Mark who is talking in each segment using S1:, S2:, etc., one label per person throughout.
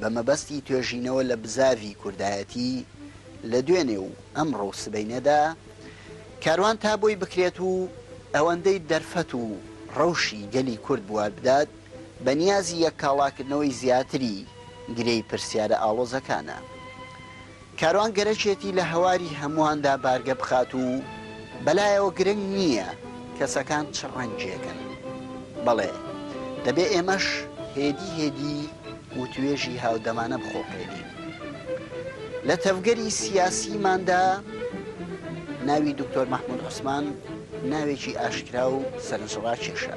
S1: بە مەبەستی توێژینەوە لە بزاڤی کوردایەتی لە دوێنێ و ئەمڕۆ و سبەینێدا کاروان تا بۆی بکرێت و ئەوەندەی دەرفەت و ڕەوشی گەلی کورد بوار بدات بە نیازی یەککاڵاکردنەوەی زیاتری گرێی پرسیارە ئاڵۆزەکانە. کاروان گەرەکێتی لە هەواری هەموواندا بارگە بخات و بەلایەوە گرنگ نییە کەسەکان چ ڕەنگێکن، بەڵێ دەبێ ئێمەش هێدی هێدی وتوێژی هاودەمانە بخوڵقێنین. لە تەڤگەری سیاسیماندا ناوی دکتۆر مەحموود عوسمان ناوێکی ئاشکرا و سەرنجڕاکێشە.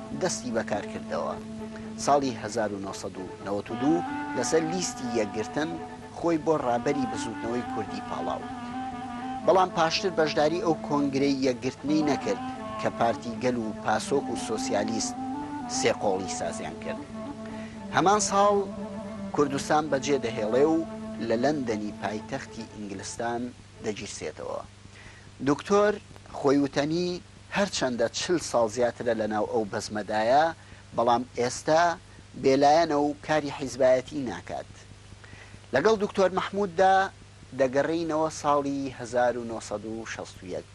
S1: دەستی بەکار کردەوە. ساڵی هەزار و نۆ سەد و نەوەد و دوو لەسەر لیستی یەکگرتن خۆی بۆ ڕابەری بزووتنەوەی کوردی پاڵاو. بەڵام پاشتر بەشداری ئەو کۆنگرەی یەکگرتنەی نەکرد کە پارتی گەل و پاسۆک و سۆسیالیست سێ قۆڵی سازیان کرد. هەمان ساڵ کوردستان بەجێ دەهێڵێ و لە لەندەنی پایتەختی ئینگلستان دەگیرسێتەوە. دوکتۆر خۆی وتەنی، هەرچەندە چل ساڵ زیاترە لەناو ئەو بەزمەدایە، بەڵام ئێستا بێلایەنە و کاری حیزبایەتی ناکات. لەگەڵ دوکتۆر مەحمووددا دەگەڕێینەوە ساڵی هەزار و نۆ سەد و شەست و یەک،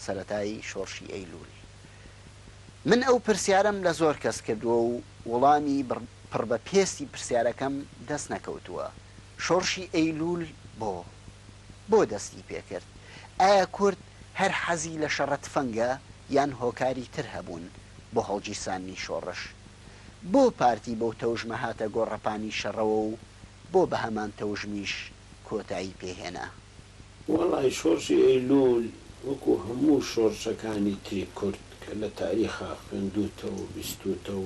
S1: سەرەتای شۆڕشی ئەیلوول. من ئەو پرسیارەم لە زۆر کەس کردووە و وڵامی پڕ بە پێستی پرسیارەکەم دەست نەکەوتووە، شۆڕشی ئەیلوول بۆ؟ بۆ دەستی پێکرد؟ ئایا کورد هەر حەزی لە شەڕە تفەنگە یان هۆکاری تر هەبوون بۆ هەڵگیرساندنی شۆڕش؟ بۆ پارتی بەو تەوژمە هاتە گۆڕەپانی شەڕەوە و بۆ بە هەمان تەوژمیش کۆتایی پێ هێنا؟ وەڵا
S2: شۆڕشی ئەیلوول وەکوو هەموو شۆڕشەکانی تری کورد کە لە تاریخا خوێندووتەو و بیستووتەو،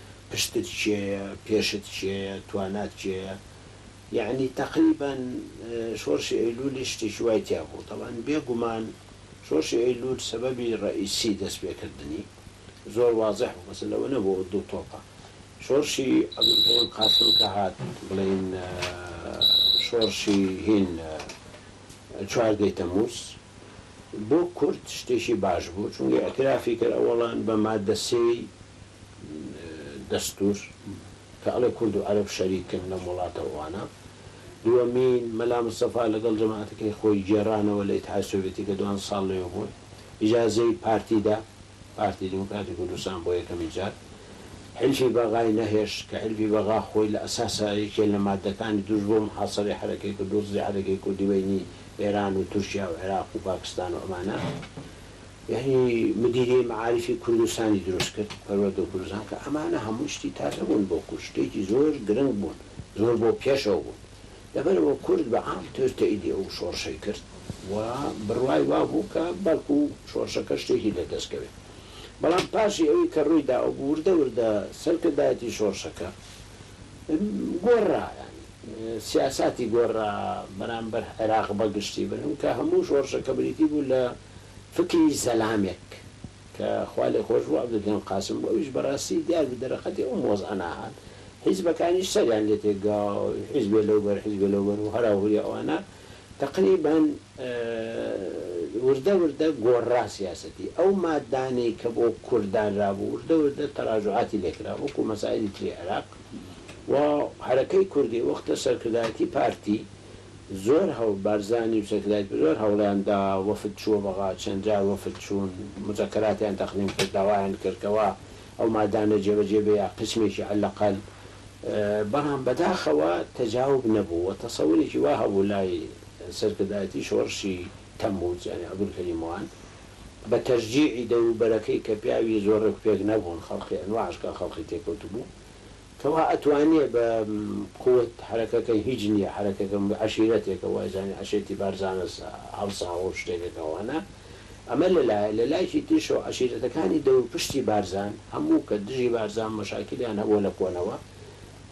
S2: پشتت کێیە پێشت کێیە توانات کێیە یەعنی تەقریبەن شۆرشی ئەیلولی شتێکی وای تیا بوو تەبعەن بێ گومان شۆرشی ئەیلول سەبەبی ڕەئیسی دەست پێ کردنی زۆر وازح بوو بەس لەوە نەبوو ئەوە دوو تۆپە شۆرشی عبدالکریم قاسم کە هات بڵێین شۆرشی هین چواردەی تەموز بۆ کورد شتێکی باش بوو چونگە ئەترافی کرد ئەوەڵان بە مادە سێی دەستور کە ئەڵێ کورد و عەرەب شەریکن لەم وڵاتە ئەوانە دووەمین مەلا مستەفا لەگەڵ جەماعەتەکەی خۆی گێڕانەوە لە ئیتحاد سۆڤێتی کە دوان ساڵ لەوێ بوون ئیجازەی پارتی دا پارتی دیموکراتی کوردستان بۆ یەکەمین جار حیلفی بەغای نەهێشت کە حیلفی بەغا خۆی لە ئەساسا یەکێ لە مادەکانی توش بۆ محاسەرەی حەرەکەی کرد دۆزی حەرەکەی کوردی بەینی ئێران و تورکیا و عێراق و پاکستان و ئەمانە یانی مدیریەی مەعاریفی کوردستانی دروست کرد پەروەردەو گورزان کە ئەمانە هەموو شتی تازە بوون بۆ کورد شتێکی زۆر گرنگ بوون زۆر بۆ پێشەوە بوون لەبەرئەوە کورد بە عام تۆز تەئیدی ئەو شۆڕشەی کرد و بڕوای وا بوو کە بەڵکو شۆڕشەکە شتێکی لە دەست کەوێت بەڵام پاشی ئەوی کە ڕووی دا وردە وردە سەرکردایەتی شۆڕشەکە گۆڕرا یانی. سیاساتی گۆڕرا بەرامبەر عێراق بە گشتی بلم کە هەموو شۆڕشەکە بریتی بوو لە فکری زەلامێک کە خوا لێ خۆش بوو عەبدولکەریم قاسم بوو ئەویش بەراستی دیار بوو دەرەقەتی ئەوم وەزعە ناهات حیزبەکانیش سەریان لێ تێک گا حیزبێ لەو بەر حیزبێ لەو بەر و هەرا هوریا ئەوانە تەقریبەن وردە وردە گۆڕرا سیاسەتی ئەو مادانەی کە بۆ کورد دانرابوو وردە وردە تەراجوعاتی لێ کرا وەکوو مەسایلی تری عێراق و حەرەکەی کوردی وەختە سەرکردایەتی پارتی زۆر هەوڵ بارزانی و سەرکردایەتی زۆر هەوڵیان دا وەفد چووە بەغا چەند جار وەفد چوون موزەکەراتیان تەقدیم کرد داوایان کرد کەوا ئەو مادانە جێبەجێ بێ یا قیسمێکی عەلەقەل بەڵام بەداخەوە تەجاوب نەبوو و تەسەورێکی وا هەبوو لای سەرکردایەتی شۆڕشی تەمموز یانی عەبدولکەریم وان بە تەشجیعی دەوروبەرەکەی کە پیاوی زۆر ڕێکوپێک نەبوون خەڵقی ئەنواعش کە خەڵقی تێکەوتبوو کەوا ئەتوانێ بە قوت حەرەکەکەی هیچ نییە حەرەکەکە عەشیرەتێکە وایزانی عەشێتی بارزانە هەڵساوە و شتێکەکە وانە ئەمە لە لایە، لە لایکی تریشەوە عەشیرەتەکانی دەور پشتی بارزان هەموو کە دژی بارزان مەشاکلیان هەبووە لە کۆنەوە،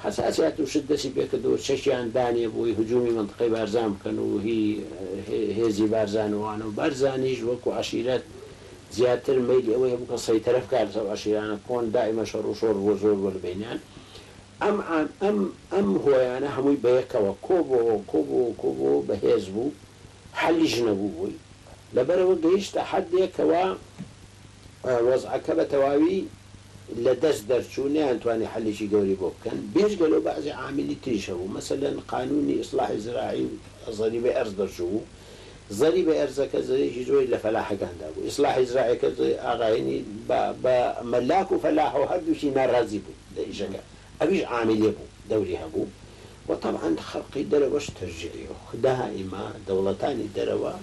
S2: هەتا چەت و چت دەستی پێ کردووە چەکیان دانێ بۆی هجوومی مەنتقەی بارزان بکەن و هی هێزی بارزان و ئەوانە و بارزانیش وەکوو عەشیرەت زیاتر مەیلی ئەوەی هەبوو کە سەیتەرە بکا لەسەر ئەو عەشیرانە کۆن دائیمەن شەڕ و شۆڕ بووە زۆر بووە لە بەینیان ئەم ئەم ئەم هۆیانە هەمووی بە یەکەوە کۆ بۆوە کۆ بۆوە کۆ بۆوە بە هێز بوو حەلیش نەبووبووی، لەبەرئەوە گەیشتە حەدێک کەوا وەزعەکە بە تەواوی لە دەست دەرچوو، نەیانتوانی حەلێکی گەورەی بۆ بکەن، بێجگە لەو بەعزێ عاملی تریش هەبوو، مەسەلەن قانوونی ئیسڵاحی زراعی و زەریبەی ئەرز دەرچووبوو، زەریبەی ئەرزەکە زەرێکی زۆری لە فەلاحەکان دابوو، ئیسڵاحی زراعیەکە ئاغا هەینی بە مەلاک و فەلاح و هەردووکی ناڕازی بوون لە ئیشەکە، ئەویش عامیلێ بوو دەوری هەبوو و تەبعەن خەڵقی دەرەوەش تەشجیعی و دائیمە دەوڵەتانی دەرەوە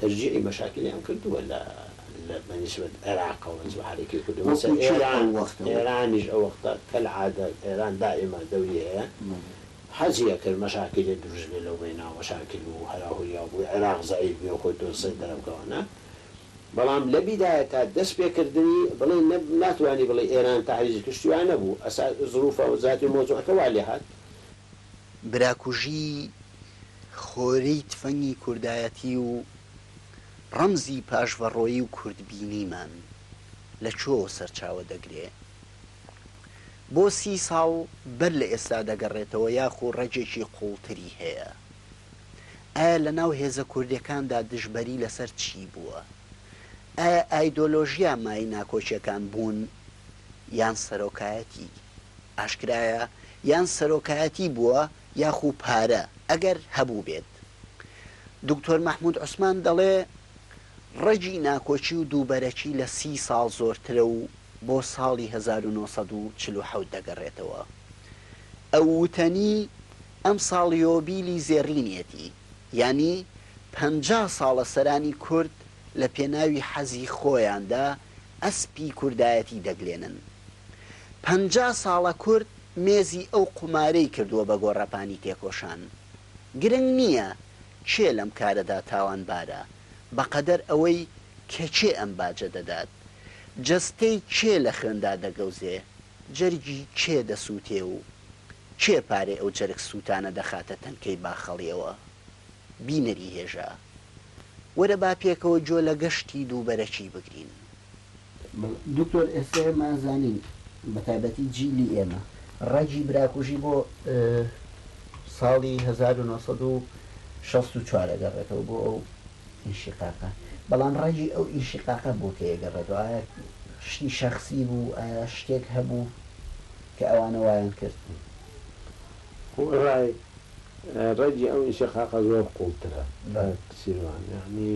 S2: تەشجیعی مەشاکلیان کردووە لە لە بە نیسبەت عێراقەوە جوحەرەکەی کردووە مەسە وەکوو چی ئێران ئەو وەختە وەک ئێرانیش ئەو وەختە کەلعادە ئێران دائیمە دەوری هەیە بەڵێ حەزی ئەکرد مەشاکلێ دروست بێ لەو بەیناو مەشاکل و هەرا هوریا بوو عێراق زەعیف بێ و خۆی تۆ سەر دەرەبکەوە نا بەڵام لە بیدایە تا دەست پێ کردنی بڵێ نە ناتوانی بڵێ ئێران تەعریزی کشتی وا نەبوو ئەسا زروفە زاتی مەوزوعەکە وا لێ هات. براکوژی
S1: خۆری تفەنگی کوردایەتی و ڕەمزی پاشڤەڕۆیی و کوردبینیمان لە کوێوە سەرچاوە دەگرێ؟ بۆ سی ساڵ بەر لە ئێستا دەگەڕێتەوە یاخو ڕەگێکی قوڵتری هەیە؟ ئایا لە ناو هێزە کوردیەکاندا دژبەری لەسەر چی بووە؟ ئایا ئایدۆلۆژیا مایەی ناکۆکیەکان بوون یان سەرۆکایەتی؟ ئاشکرایە یان سەرۆکایەتی بووە یاخو پارە ئەگەر هەبووبێت. دوکتۆر مەحمود عوسمان دەڵێ، ڕەگی ناکۆکی و دووبەرەکی لە سی ساڵ زۆرترە و بۆ ساڵی هەزار و نۆ سەد و چل و حەوت دەگەڕێتەوە. ئەو وتەنی، ئەمساڵ یۆبیلی زێڕینیەتی، یانی پەنجا ساڵە سەرانی کورد لە پێناوی حەزی خۆیاندا ئەسپی کوردایەتی دەگلێنن. پەنجا ساڵە کورد مێزی ئەو قومارەی کردووە بە گۆڕەپانی تێکۆشان. گرنگ نییە کێ لەم کارەدا تاوانبارە بەقەدەر ئەوەی کە کێ ئەم باجە دەدات؟ جەستەی کێ لە خوێندا دەگەوزێ؟ جەرگی کێ دەسووتێ و کێ پارەی ئەو جەرگ سووتانە دەخاتە تەنکەی باخەڵیەوە؟ بینەری هێژا، وەرە با پێکەوە گۆ لە گەشتی دووبەرەکی بگرین. دکتۆر ئێستا ئێمە زانین بە تایبەتی جیلی ئێمە ڕەگی براکوژی بۆ ساڵی هەزار و نۆ سەد و شەست و چوار ئەگەڕێتەوە بۆ ئەو ئینشیقاقە بەڵام ڕەگی ئەو ئینشیقاقە بۆ کەی ئەگەڕێتەوە ئایا شتی شەخسی بوو ئایا شتێک هەبوو کە ئەوانە وایان کرد؟ خۆئەرای
S2: ڕەگی ئەو ئینشیقاقە زۆر قوڵترە کاک سیروان یانی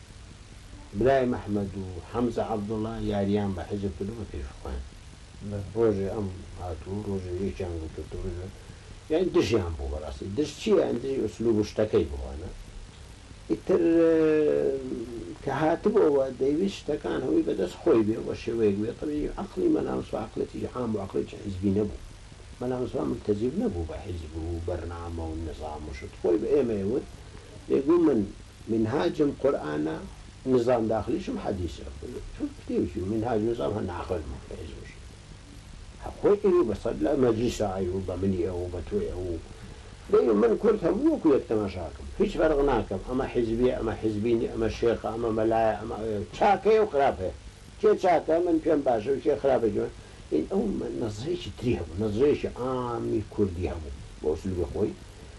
S2: برایم ئەحمەد و حەمزە عەبدوڵا یاریان بە حیزب کردو بە پێش خۆیان ڕۆژێ ئەم هاتوو ڕۆژێ یەکیان گوتووتو ڕۆژێ یان دژیان بوو بەڕاستی دژ چیە یان دژی ئسلوب و شتەکەی بوو وانە ئیتر کە هاتبۆوە دەیویست شتەکان هەوی بە دەست خۆی بێ وە شێوەیەک بێ تەبیعی عەقڵی مەلا مستەفا عەقڵێتی عام و عەقڵێتی حیزبی نەبوو مەلا مستەفا مولتەزیم نەبوو بە حیزب و بەرنامە و نیزام و شت خۆی بە ئێمەی وت دەیگوو من منهاجم قورئانە نزام داخلیشم حەدیسە تۆ پتێوکی و منهاج و نزام هەر ناقل بوو بەهێز بشی هەر خۆی ئەی و بەسەر لە مەجلیسا ئەی و بە منی ئەو و بە تۆی ئەو و دەی من کورد هەموو وەکو یەک تەماشاکەم هیچ فەرق ناکەم ئەمە حیزبیە ئەمە حیزبی نی ئەمە شێخە ئەمە مەلایە ئەمە ئەوە چاک هەیە و خراپ هەیە کێ چاکە من پێم باشە و کێ خراپە جوان ئین ئەو نەزرەیەکی تری هەبوو نەزرەیەکی عامی کوردی هەبوو بە ئسلوبی خۆی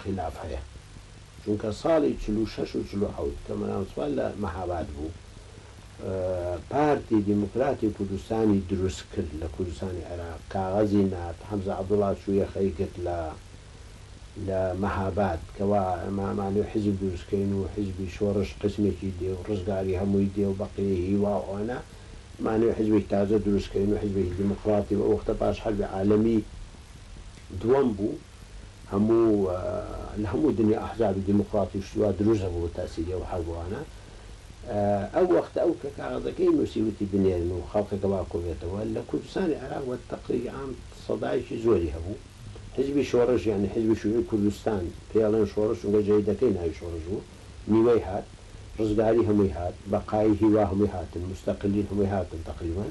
S2: خیلاف هەیە چونکە ساڵی چل و شەش و چل و حەوت کە مەلا مستەفا لە مەهاباد بوو پارتی دیموکراتی کوردستانی دروست کرد لە کوردستانی عێراق کاغەزی نارد حەمزە عەبدوڵا چوو یەخەی گرت لە لە مەهاباد کەوا ئەمامانێ و حیزب دروست کەین و حیزبی شۆڕش قسمێکی دێ و ڕزگاری هەمووی دێ و بەقیە هیوا و ئەوانە مانێ و حیزبێک تازە دروست کەین و حیزبێکی دیموکراتی بە وەختە پاش حەربی عالەمی دووەم بوو هەموو لە هەموو دنیا ئەحزابی دیموکڕاتیش وا دروست ئەبوو بە تاسیری ئەو حەربوانە ئەو وەختە ئەو کە کاغەزەکەی نووسی وتی بنێرن و خەڵکەکە وا کۆبێتەوە لە کوردستانی عێراق بە تەقریری عام سەدایەکی زۆری هەبوو حیزبی شۆڕش یانی حیزبی شوعی کوردستان پێی ئەڵێن شۆڕش چونکە جەیدەکەی ناوی شۆڕش بوو نیوەی هات ڕزگاری هەمووی هات بەقایی هیوا هەمووی هاتن موستەقلین هەمووی هاتن تەقریبەن.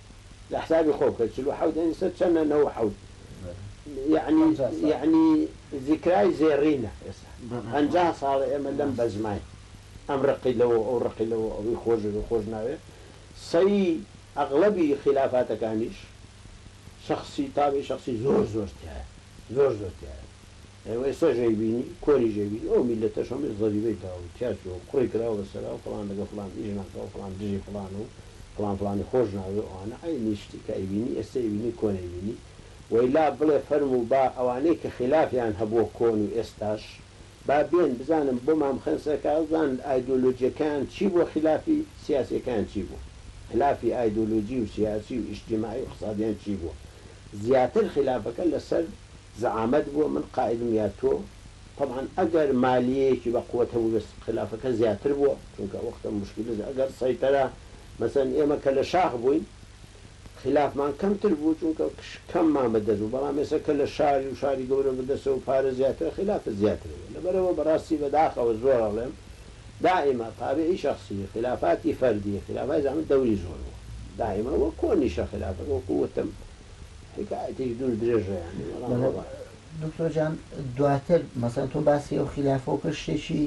S2: جا حسابی خۆ بکە چل و حەوت یانی سەد چەنە نەوە و حەوت یانی پەنجا ساڵ یانی زیکرای زێڕینە ئێستا پەنجا ساڵە ئێمە لەم بەزماین ئەم ڕقی لەوە ئەو ڕقی لەوە ئەوی خۆش ئەوی خۆش ناوێ سەی ئەغڵەبی خیلافاتەکانیش شەخسی تاوی شەخسی زۆر زۆر تیایە زۆر زۆر تیایە. ئێوە ئێستا ژێی بینی کۆری ژێی بینی ئەو میلەتەش هەمووی زەریبەی داوە و تیا چووە و قوڕی کراوە بە سەرا و فڵان لەگەڵ فڵان ئیش ناکا و فڵان دژی فڵانە و فڵان فڵانی خۆش ناوێ و ئەوانە عەینی شتی کە ئەیبینی ئێستا ئەیبینی کۆن ئەیبینی و ئیلا بڵێ فەرموو با ئەوانەی کە خیلافیان هەبووە کۆن و ئێستاش با بێن بزانم بۆ مام خێن سەرکا بزان ئایدۆلۆجیەکەیان چی بووە خیلافی سیاسیەکەیان چی بووە خیلافی ئایدۆلۆجی و سیاسی و ئیجتیماعی و ئیقتسادیان چی بووە زیاتر خیلافەکە لە سەر زەعامەت بووە من قائدم یا تۆ، تەبعەن ئەگەر مالیەیەکی بە قوەت هەبوو بێ خیلافەکە زیاتر بووە چونکە وەختە موشکیلز ئەگەر سەیتەرە مەسەلەن ئێمە کە لە شاخ بووین خیلافمان کەمتر بوو چونکە کەممان بە دەست بوو بەڵام ئێسە کە لە شاری و شاری گەورە بە دەستە و پارە زیاترە خیلافت زیاتر هەیە لەبەرئەوە بە ڕاستی بە داخەوە زۆر ئەڵێم دائیمە تابعی شەخسی خیلافاتی فەردی خیلافای زەعامەت دەوری زۆر بووە دائیمە وە کۆنیشە خیلافەکە وەکوو وتم حکایەتیش دوور درێژە یانی بەڵام بەڵێ وەڵا. دکتۆر
S1: جان دواتر مەسەلەن تۆ باسی ئەو خیلافەو کرد شتێکی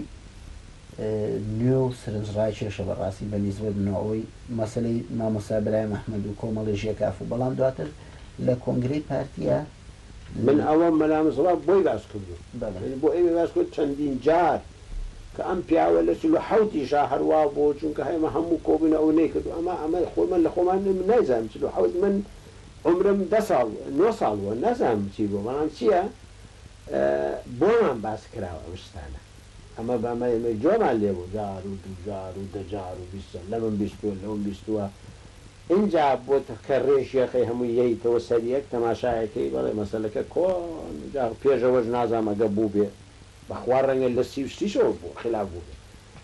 S1: نوێ و سرنج ڕاکێشە بەڕاستی بە نیسبەت منەوە ئەوەی مەسەلەی مامۆستا برایم ئەحمەد و کۆمەڵی ژێکاف و بەڵام دواتر لە کۆنگرەی پارتیە من
S2: ئەوە مەلا مستەفا بۆی باس کردووم بەڵێ یانی بۆ ئێمەی باس کردووە چەندین جار کە ئەم پیاوە لە چل و حەوت یشا هەر وا بوو چونکە ئێمە هەموو کۆبوونە ئەو نەیکردوو ئەمە ئەمە خۆ من لە خۆمان من نایزانم چل و حەوت من عومرم دە ساڵ نۆ ساڵ بووە نازانم چی بوو بەڵام چییە بۆمان باس کراوە ئەم شتانە ئەمە بەمە ئێمەی جۆمان لێ بوو جار و دوو جار و دە جار و بیست جار لەمم بیستووە لەوم بیستووە ئینجا بۆ کە ڕێژیەکەی هەمووی یەیتەوە سەر یەک تەماشایەکەی بەڵێ مەسەلەکە کۆن جا پێش ئەوەش نازانم ئەگە بووبێ بەخوا ڕەنگە لە سی و سیشەوە بوو خلاف بووبێ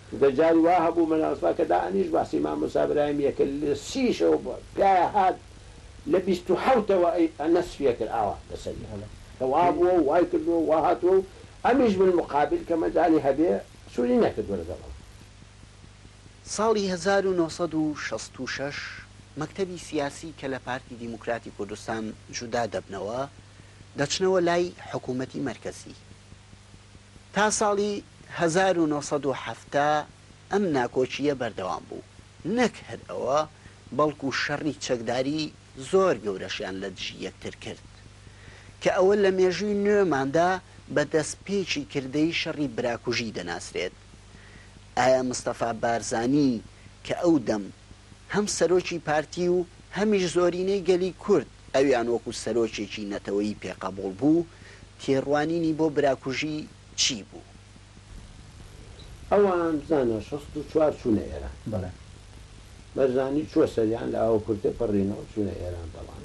S2: چونکە جاری وا هەبوو مەلا مستەفا کە دائەنیشت باسی مامۆستا براهیمیە کە لە سیشەوە بوو پیایە هات لە بیست و حەوتەوە ئەی نەسفی ئەکرد ئاوا لەسەری هەڵێ کە وا بووە و وای کردووە و وا هاتووە و ئەمیش بالمقابل کە مەجالی هەبێ سووری نەکردووە لەگەڵ ئەو.
S1: ساڵی هەزار و نۆ سەد و شەست و شەش مەکتەبی سیاسی کە لە پارتی دیموکراتی کوردستان جودا دەبنەوە، دەچنەوە لای حکوومەتی مەرکەزی. تا ساڵی هەزار و نۆ سەد و حەفتا ئەم ناکۆکییە بەردەوام بوو. نەک هەر ئەوە، بەڵکو شەڕی چەکداری زۆر گەورەشیان لە دژی یەکتر کرد. کە ئەوە لە مێژووی نوێماندا بە دەستپێکی کردەی شەڕی براکوژی دەناسرێت. ئایا مستەفا بارزانی کە ئەو دەم، هەم سەرۆکی پارتی و هەمیش زۆرینەی گەلی کورد ئەویان وەکو سەرۆکێکی نەتەوەیی پێ قەبوڵ بوو، تێڕوانینی بۆ براکوژی چی بوو؟
S2: ئەوان بزانە شەست و چوار چوونە ئێران؟ بەڵێ.
S3: بەرزانی
S2: چووە سەریان لە ئاوە کورتێ پەڕینەوە چوونە ئێران دەڵان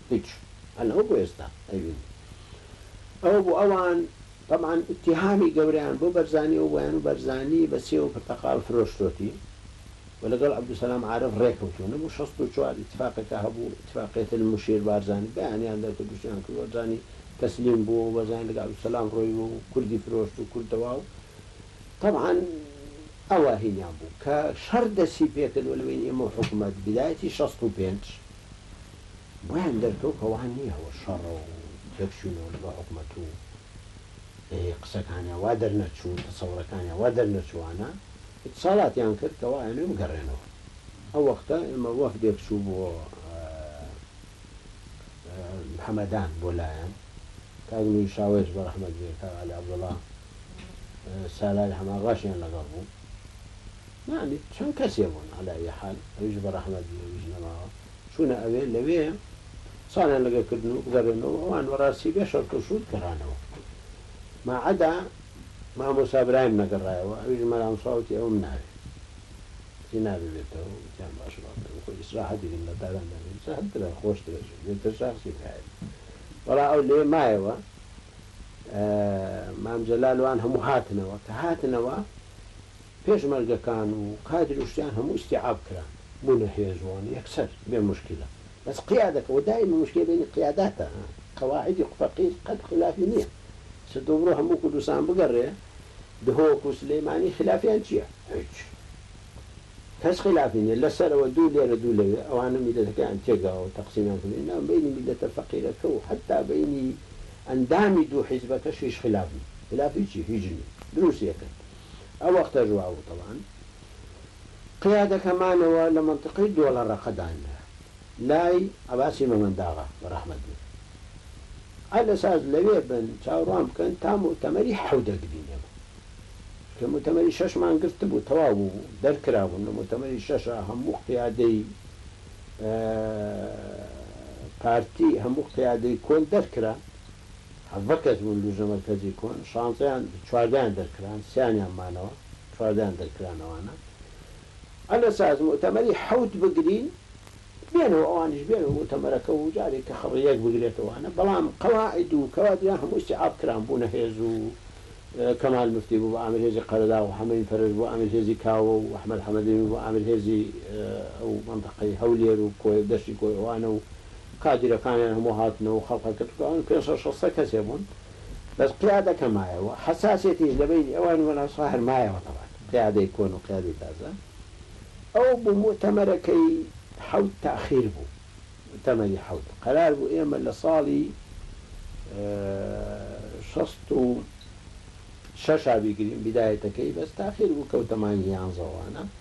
S2: هیچ هەر ئەو بۆ ئێستا ئەیبینی ئەوە بۆ ئەوان تەبعەن ئیتیهامی گەورەیان بۆ بەرزانی ئەو بۆیان و بەرزانی بە سێو و پرتەقاڵ فرۆشتۆتی و لەگەڵ عەبدولسەلام عارف ڕێکەوتوو نەبوو شەست و چوار ئیتفاقێکا هەبوو ئیتفاقیەت المشیر بارزانی بەیانیان دەرکرد دژیان کرد بەرزانی تەسلیم بوو و بەرزانی لەگەڵ عەبدولسەلام ڕۆیوە و کوردی فرۆشت و کورد دەوا و تەبعەن ئەوە هینیان بوو کە شەڕ دەستی پێکرد و لە بەین ئێمە و حکومەت بدایەتی شەست و پێنج وایان دەرکەوت کە وا نییە و شەڕە و تێکچوونەوە لەگەڵ حکومەت و هێ قسەکانیان وا دەرنەچوو، تەسەوڕەکانیان وا دەرنەچووانە، ئیتسالاتیان کرد کە وا ئەیانەوێ بگەڕێنەوە. ئەو وەختە ئێمە وەفدێک چوو بۆ هەمەدان بۆ لایان، کاک نوری شاوەیش بە ڕەحمەت بێ، کاک عەلی عەبدوڵا سالاری حەماقاشیان لەگەڵ بوو. یانی چەند کەسێ بوون، عەلائیحال ئەویش بە ڕەحمەت بێ ئەویش نەماوە. چوونە ئەوێ، لەوێ قسانیان لەگەڵ کردن و بگەڕێنەوە، ئەوان بەڕاستی بێ شەرت و شووت گەڕانەوە، ماعەدا مامۆستا برایم نەگەڕایەوە، ئەویش مەرامسوا وتی ئەوم ناوێ، وتی نا ببێتەوە، وتیان باشە با بڕۆین، خۆ ئیسراحەتی کرد لە تاران دەبێت ئیسراحەت بکەن خۆشترە چون بێتە شاخسی برایم، بەڵام ئەو لەوێ مایەوە، مام جەلال و ئەوان هەموو هاتنەوە، کە هاتنەوە، پێشمەرگەکان و کادر و شتیان هەموو ئیستیعاب کران بوونە هێز و ئەن یەکسەر بێ موشکیلە بەس قیادەکە وە دایمە موشکیلە بەینی قیاداتە ها قواعیدی فەقیر قەت خلافی نیە ستە تۆ بڕۆ هەموو کوردستان بگەڕێ دهۆک و سلیمانی خلافیان چیە هیچ کەس خلافی نیە لە سەرەوە دوو لێرە دوو لەوێ ئەوانە میلەتەکەیان تێکداوە و تەقسیمیان کردووە نا بەینی میلەتە فەقیرەکە و حەتا بەینی ئەندامی دوو حیزبەکەش هیچ خلاف نیە خلافی چی هیچ نیە دروست ئەکەن. ئەو وەختەش وا وتەوان قیادەکەمانەوە لە مەنتقەی دۆڵەڕەقە دانرا لای عەباسی مەمەنداغا بەڕەحمەت بن عە لە ساز لەوێ بن چاوڕوان بکەن تا موتەمەری حەو دەگرینەوە کە موتەمەری شەشمان گرتبوو تەواو بوو بوو دەرکرابوون لە موتەمەری شەشا هەموو قیادەی پارتی هەموو قیادەی کۆن دەرکرا حەڤە کەس بوون لوجنە مەرکەزی کۆن شانزەیان چواردەیان دەرکران سیانیان مانەوە چواردەیان دەرکران ئەوانە ئەلە ساز موتەمەری حەوت بگرین بێنەوە ئەوانیش بێنەوە موتەمەرەکە و جارێک کە خەڕی یەک بگرێتەوانە بەڵام قەواعد و کەوادران هەموو ئیستیعاب کران بوونە هێز و کەمال مفتی بوو بە ئامر هێزی قەرەداغ و حەمەین فەرەج بوو ئامر هێزی کاوە و ئەحمەد حەمەدەمی بوو ئامر هێزی ئەو مەنتەقەی هەولێر و کۆیە و دەشتی کۆیە ئەوانە و کادیرەکانیان هەموو هاتنە و خەڵقە گرتووەوەن، پێنج سەد شەست کەسێ بوون، بەس قیادەکە مایە و حەساسیەتیش لە بەینی ئەوانی وەنەوسا هەر مایەوە تەبعەن، قیادەی کۆن و قیادەی تازە، ئەو بوو موئتەمەرەکەی حەوت تاخیر بوو، موئتەمەری حەوت، قەرار بوو ئێمە لە ساڵی شەست و شەش بیگرین بیدایەتەکەی، بەس تاخیر بوو کەوتە مانگی یانزە و وانە.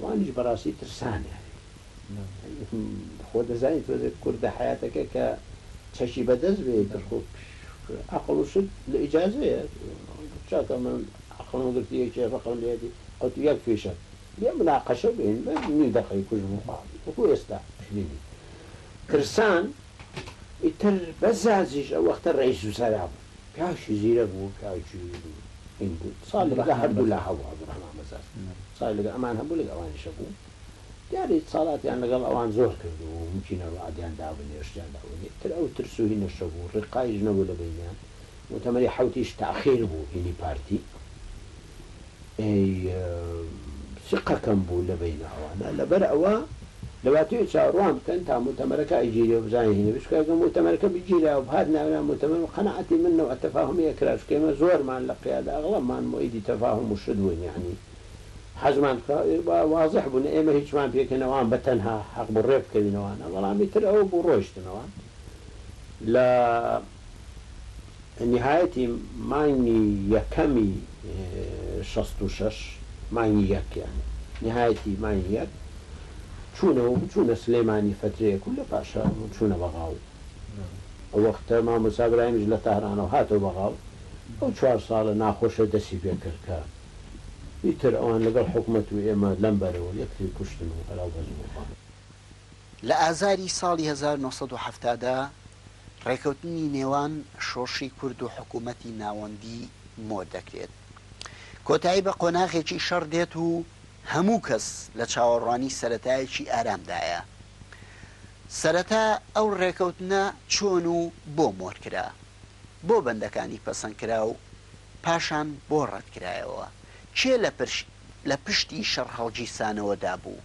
S2: وانیش بەڕاستی ترسامیانێ خۆ دەزانی تۆزێ کوردە حەیاتەکە کە چەکی بەدەست بێ ئیتر خۆ ئەقڵ و شت لە ئیجازەیە چاکە من ئەقڵم گرتی یەکێ ڕقم لێدی ئەوتو یەک فیشەک بێ مناقەشە بێن بە نیو دەقەی کوژمو خاڵی وەکو ئێستا شبینی ترسان ئیتر بەس زازیش ئەو وەختە ڕئیس وزەرا بوو کاش زیرەک بوو کاش جویر بوو هین بوو ساڵی لەگە هەردوو لا هەبوو عبدالرحمان بەزاز ساڵی لەگە ئەمان هەبوو لەگە ئەوانیش هەبوو دیارە ئیتسالاتیان لەگەڵ ئەوان زۆر کردبوو ممکینە ڕوعدیان دابنێ شتیان دابنێ تر ئەو ترس و هینەش هەبوو ڕیقایش نەبوو لە بەینیان موتەمەری حەوتیش تاخیر بوو هینی پارتی ئێی سقەکەم بوو لە بەیناوانە لەبەر ئەوە لەواتەیە چاوەڕوان بکەن تا موتەمەرەکە ئەیگیرێ و بزانین هینە بێت چکە گەر موتەمەرەکە بگیرا و بهات ناونا موتەمەر و قەناعەتی من نەوع تەفاهومی ئەکرا چکە ئێمە زۆرمان لە قیادە ئەغڵەبمان موئەیدی تەفاهوم و شت بووین یەعنی حەزمان کرا و وازح بوو نە ئێمە هیچمان پێ کەین ئەوان بە تەنها حەق بوو ڕێ بکەوینەوە نا بەڵام ئیتر ئەوە بوو ڕۆیشتنەوە لە نیهایەتی مانگی یەکەمی شەست و شەش مانگی یەک یانی نیهایەتی مانگی یەک چوونە و چوونە سلێمانی فەترەیەک و لە پاشا چوونە بەغااو ئەو وەختە مامۆسا براهیمیش لە تارانەوە هاتەوە بەغااو ئەو چوار ساڵە ناخۆشە دەسی پێ کرد کە ئیتر ئەوان لەگەڵ حکومەت و ئێمە لەم بەرەوە یەکتری کوشتن و هەراو بەزم و خواردن. لە ئازاری
S1: ساڵی هەزار و نۆ سەد و حەفتا دا ڕێکەوتنی نێوان شۆڕشی کورد و حکوومەتی ناوەندی مۆ دەکرێت. کۆتایی بە قۆناغێکی شەڕ دێت و هەموو کەس لە چاوەڕوانی سەرەتایەکی ئارامدایە. سەرەتا ئەو ڕێکەوتنە چۆن و بۆ مۆر کرا؟ بۆ بەندەکانی پەسەند کرا و پاشان بۆ ڕەت کرایەوە؟ کێ لە پشتی شەڕهەڵگیرسانەوەدا بوو؟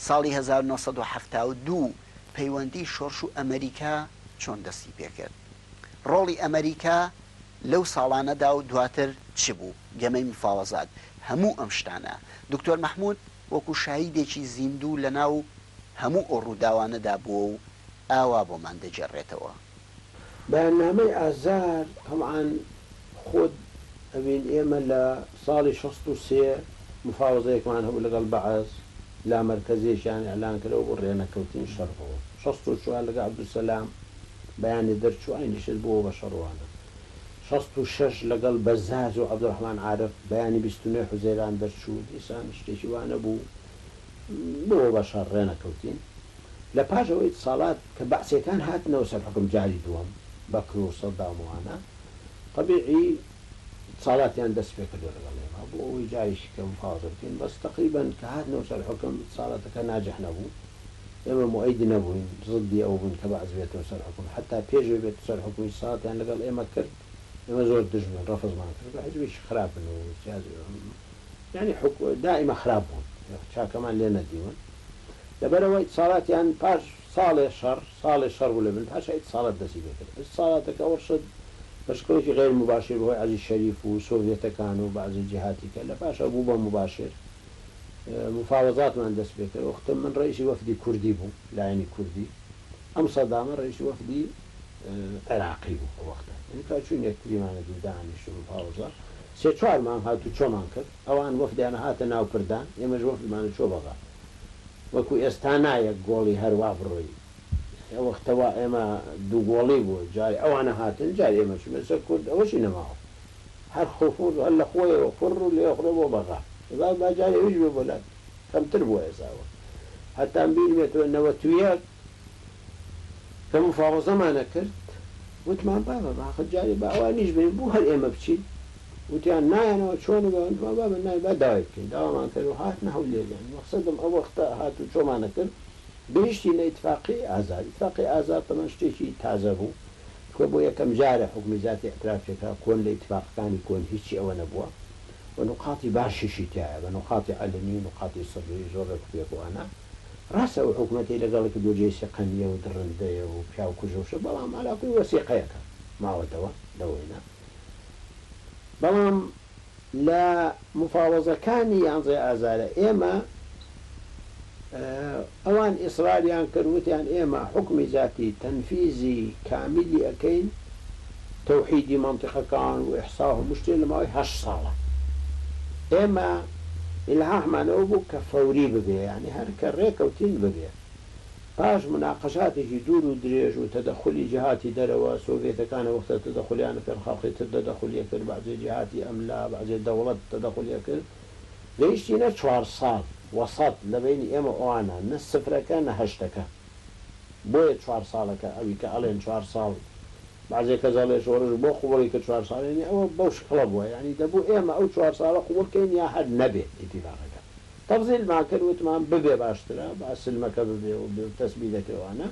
S1: ساڵی هەزار و نۆ سەد و حەفتا و دوو پەیوەندی شۆرش و ئەمەریکا چۆن دەستی پێکرد؟ ڕۆڵی ئەمەریکا لەو ساڵانەدا و دواتر چ بوو؟ گەمەی مفاوەزات؟ هەموو ئەم شتانە دکتۆر مەحمود وەکو شاهیدێکی زیندوو لەناو هەموو ئەو ڕووداوانەدا بووە و ئاوا بۆمان دەگێڕێتەوە.
S2: بەیاننامەی ئازار تەبعەن خۆت ئەبین ئێمە لە ساڵی شەست و سێ مفاوەزەیەکمان هەبوو لەگەڵ بەعس لا مەرکەزیەکیان ئیعلان کردەوە بۆ ڕێنەکەوتنی شەڕ بەوە شەست و چوار لەگە عبدالسلام بەیانێ دەرچوو ئاینیشت بۆوە بە شەڕوانە شەست و شەش لەگەڵ بەزاز و عبدالرحمان عارف بەیانی بیست و نۆی حوزەیران دەرچوو دیسان شتێکی وانەبوو بۆوە بە شەڕ ڕێنەکەوتین. لە پاش ئەوەی ئیتسالات کە بەعسیەکان هاتنەوە سەر حوکم جاری دووەم بەکر و سەدام و ئانا تەبیعی ئیتسالاتیان دەست پێ کردوە لەگەڵ ئێمە بۆ ئەوەی جارێکی کە مفاوەزە بکەین بەس تەقریبەن کە هاتنەوە سەر حوکم ئیتسالاتەکە ناجح نەبوو ئێمە موئەید نەبووین زدی ئەوە بووین کە بەعس بێتەوە سەر حوکم حەتا پێش ئەوەی بێتە سەر حوکم ئیتسالاتیان لەگەڵ ئێمە کرد ئێمە زۆر دژ بووین ڕەفزمان کرد کە حیزبێکی خراپن و سیاسی یانی حوک دائیمە خراپ بوون چاکەمان لێ نەدیون. لەبەرئەوە ئیتسالاتیان پاش ساڵێ شەڕ، ساڵێ شەڕ بوو لە بن پاشا ئیتسالات دەستی پێ کرد. ئیتسالاتەکە ئەوە شت بە شکڵێکی غەیر موباشیر بە هۆی عەزیز شەریف و سۆڤیەتەکان و بەعزێ جیهاتی کە لە پاشا بوو بە موباشیر مفاوەزاتمان دەست پێ کرد. وەختم من ڕەئیسی وەفدی کوردی بوو، لایەنی کوردی، ئەم سەدامە ڕەئیسی وەفدی عێراقی بوو ئەو وەختە. ئینجا چووین یەکتریمانە دیو دانیشتن مفاوەزە سێ چوار مانگ هاتوو چۆمان کرد. ئەوان وەفدیان هاتە ناو پردان ئێمەش وەفدمان چۆ بەغا وەکو ئێستا نا یەک گۆڵی هەروا بڕۆی ئەوەختە وا ئێمە دوو گۆڵی بوو جاری ئەوانە هاتن جاری ئێمە چونە سەر کورد ئەوەشی نەماوە هەر خفور هەر لە خۆیەوە فر و لێ خرۆ بۆ بەغا ئێبا با جاری ئەویش بێ بۆ لات کەمتر بووە ئێسا ئەوە هەتان بیرمێتەوە نەوەت و یەک کە مفاوەزەمان ئەکرد وتمان بابە باخە جاری با ئەوانیش بێن بوو هەر ئێمە بچین وتیان نایەنەوە چۆن ئەبێ وتمان بابە نایەن با داوای بکەین داوامان کرد و هاتنە هەولێریان مەقسەدم ئەو وەختە هات و چۆمانە کرد گەیشتینە ئیتفاقیەی ئازاد ئیتفاقی ئازاد تەمەن شتێکی تازە بوو چونکە بۆ یەکەم جارە حوکمی زاتی ئیعتراف پێ کرا کۆن لە ئیتفاقەکانی کۆن هیچی ئەوە نەبووە و نوقاتی باشیشی تیایە بە نوقاتی عەلەنی و نوقاتی سڕیی زۆر ڕێک و پێک و ئەنا ڕاستە ئەو حکومەتەی لەگەڵی کردووە جێی سیقە نییە و دڕندەیە و پیاوکوژە و شت بەڵام عەلاکوی وەسیقەیەکە ماوەتەوە لەوەینە بەڵام لە مفاوەزەکانی یانزەی ئازارە ئێمە ئەوان ئیسراریان کرد وتیان ئێمە حوکمی زاتی تەنفیزی کامیلی ئەکەین تەوحیدی مەنتیقەکان و ئیحسا و هەموو شتێ لە ماوەی هەشت ساڵە ئێمە ئیلهاحمان ئەوە بوو کە فەوری ببێ یانی هەر کە ڕێکەوتین ببێ. پاش مناقەشاتێکی دوور و درێژ و تەدەخولی جیهاتی دەرەوە، سۆڤیەتەکان ئەوەختە تەدەخولیان لەپێن خەڵقی تر دەدەخولی ئەکرد، بەعجێ جیهاتی ئەملا، بەعجێ دەوڵەت تەدەخولی ئەکرد. گەیشتی نە چوار ساڵ، وەسەط، لە بەینی ئێمە ئەوانە، نە سفرەکە نە هەشتەکە. بۆیە چوار ساڵەکە، ئەوی کە ئەڵێن چوار ساڵ، بەعجێ کەس ئەڵێ شۆڕش بۆ قووڵی کرد چوار ساڵ، یانی ئەوە بەو شکڵە بووە، یانی دەبوو ئێمە ئەو چوار ساڵە قووڵ کەین یا هەر نەبێ ئیتیفاقەکە. تەفزیل ماکر وتمان ببێ باشترە با سلمەکە ببێ و بێ و تەسبی دەکرێ وانە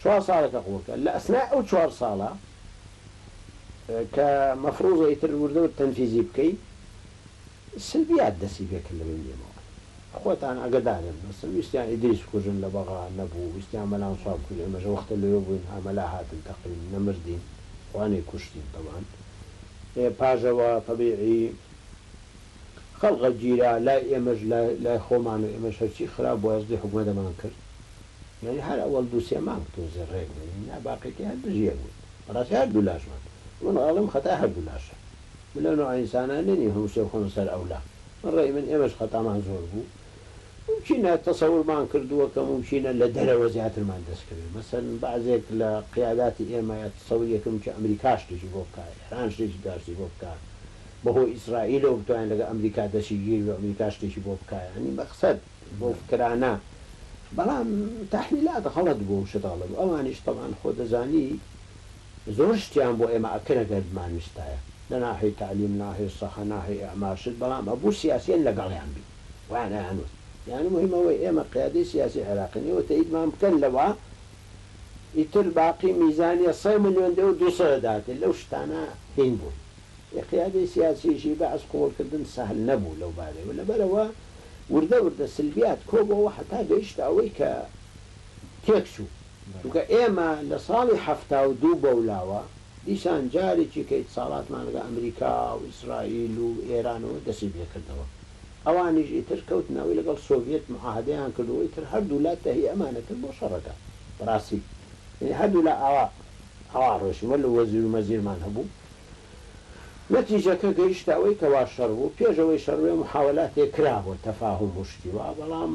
S2: چوار ساڵێکە قوڵ کرد لە ئەسنای ئەو چوار ساڵە کە مەفروزە ئیتر وردە ورد تەنفیزی بکەی سلبیات دەسی پێ کرد لە بەین ئێمەوە خۆتان ئاگەدارن مەسەن ویستیان ئیدریس بکوژن لە بەغا نەبوو ویستیان مەلان سوا بکوژن ئێمەش وەختە لەوێ بووین ها مەلا هاتن تەقین نەمردین خوا نەیکوشتین تەبعەن ئێ پاژەوە تەبیعی خەڵقە گیرا لای ئێمەش لای خۆمان و ئێمەش هەرچی خراپ بوو هەستی حکومەتەمان کرد یانی هەر ئەوەڵ دوو سێ مانگ تۆزێ ڕێک بووین ئینجا باقیەکەی هەر دژ یەک بووین بەڕاستی هەر دوو لاشمان من ئەڵێم خەتای هەر دوو لاشە من لەو نەوعە ئینسانانە نیم هەموو شتێ بخەمە سەر ئەولا من ڕەئی من ئێمەش خەتامان زۆر بوو مومکینە تەسەورمان کردووە کە مومکینە لە دەرەوە زیاترمان دەست کەوێ مەسەلەن بەعزێک لە قیاداتی ئێمە تەسەوریەکم کە ئەمریکا شتێکی بۆ بکا ئێران شتێکی باشی بۆ بکا بەهۆی ئیسرائیلەوە بتوانێ لەگەڵ ئەمریکا دەستی گیر بێ و ئەمریکا شتێکی بۆ بکا یانی مەقسەد بەو فکرانە بەڵام تەحلیلات غەڵەت بوو و شت غەڵەت بوو ئەوانیش تەبعەن خۆ دەزانی زۆر شتیان بۆ ئێمە ئەکرد گەر بمانویستایە لە ناحێی تەعلیم ناحێی سەحە ناحێی ئێعمار شت بەڵام ئەبوو سیاسیەن لەگەڵیان بین وایان ئەیانوت یانی موهیم ئەوەی ئێمە قیادەی سیاسی عێراقین ئێوە تەئیدمان بکەن لەوە ئیتر باقی میزانیە سەد ملیۆن دێ و دوو سەد دەداتێ لەو شتانە هین بوون. ی قیادەی سیاسیی بەعس قبوڵکردن سەهل نەبوو لەو بارەی و لەبەرئەوە وردە وردە سلبیات کۆبۆوە حەتا گەیشتە ئەوەی کە تێکچوو چونکە ئێمە لە ساڵی حەفتا و دوو بەولاوە دیسان جارێکی کە ئیتساڵاتمان لەگەڵ ئەمریکا و ئیسرائیل و ئێرانەوە دەستی پێکردەوە ئەوانیش ئیتر کەوتنە ئەوەی لەگەڵ سۆڤیەت معاهەدەیان کردووە ئیتر هەردوولا تەهی ئەمانە کرد بۆ شەڕەکە بەڕاستی یەنی هەردوولا ئاوا ئاوا ڕۆیشتن وەلو وەزیرو مەزیرمان هەبوو نەتیجەکە گەیشتە ئەوەی کە وا شەڕ بوو، پێش ئەوەی شەڕ بێ موحاوەلاتێ کرا بۆ تەفاهوم و شتی وا، بەڵام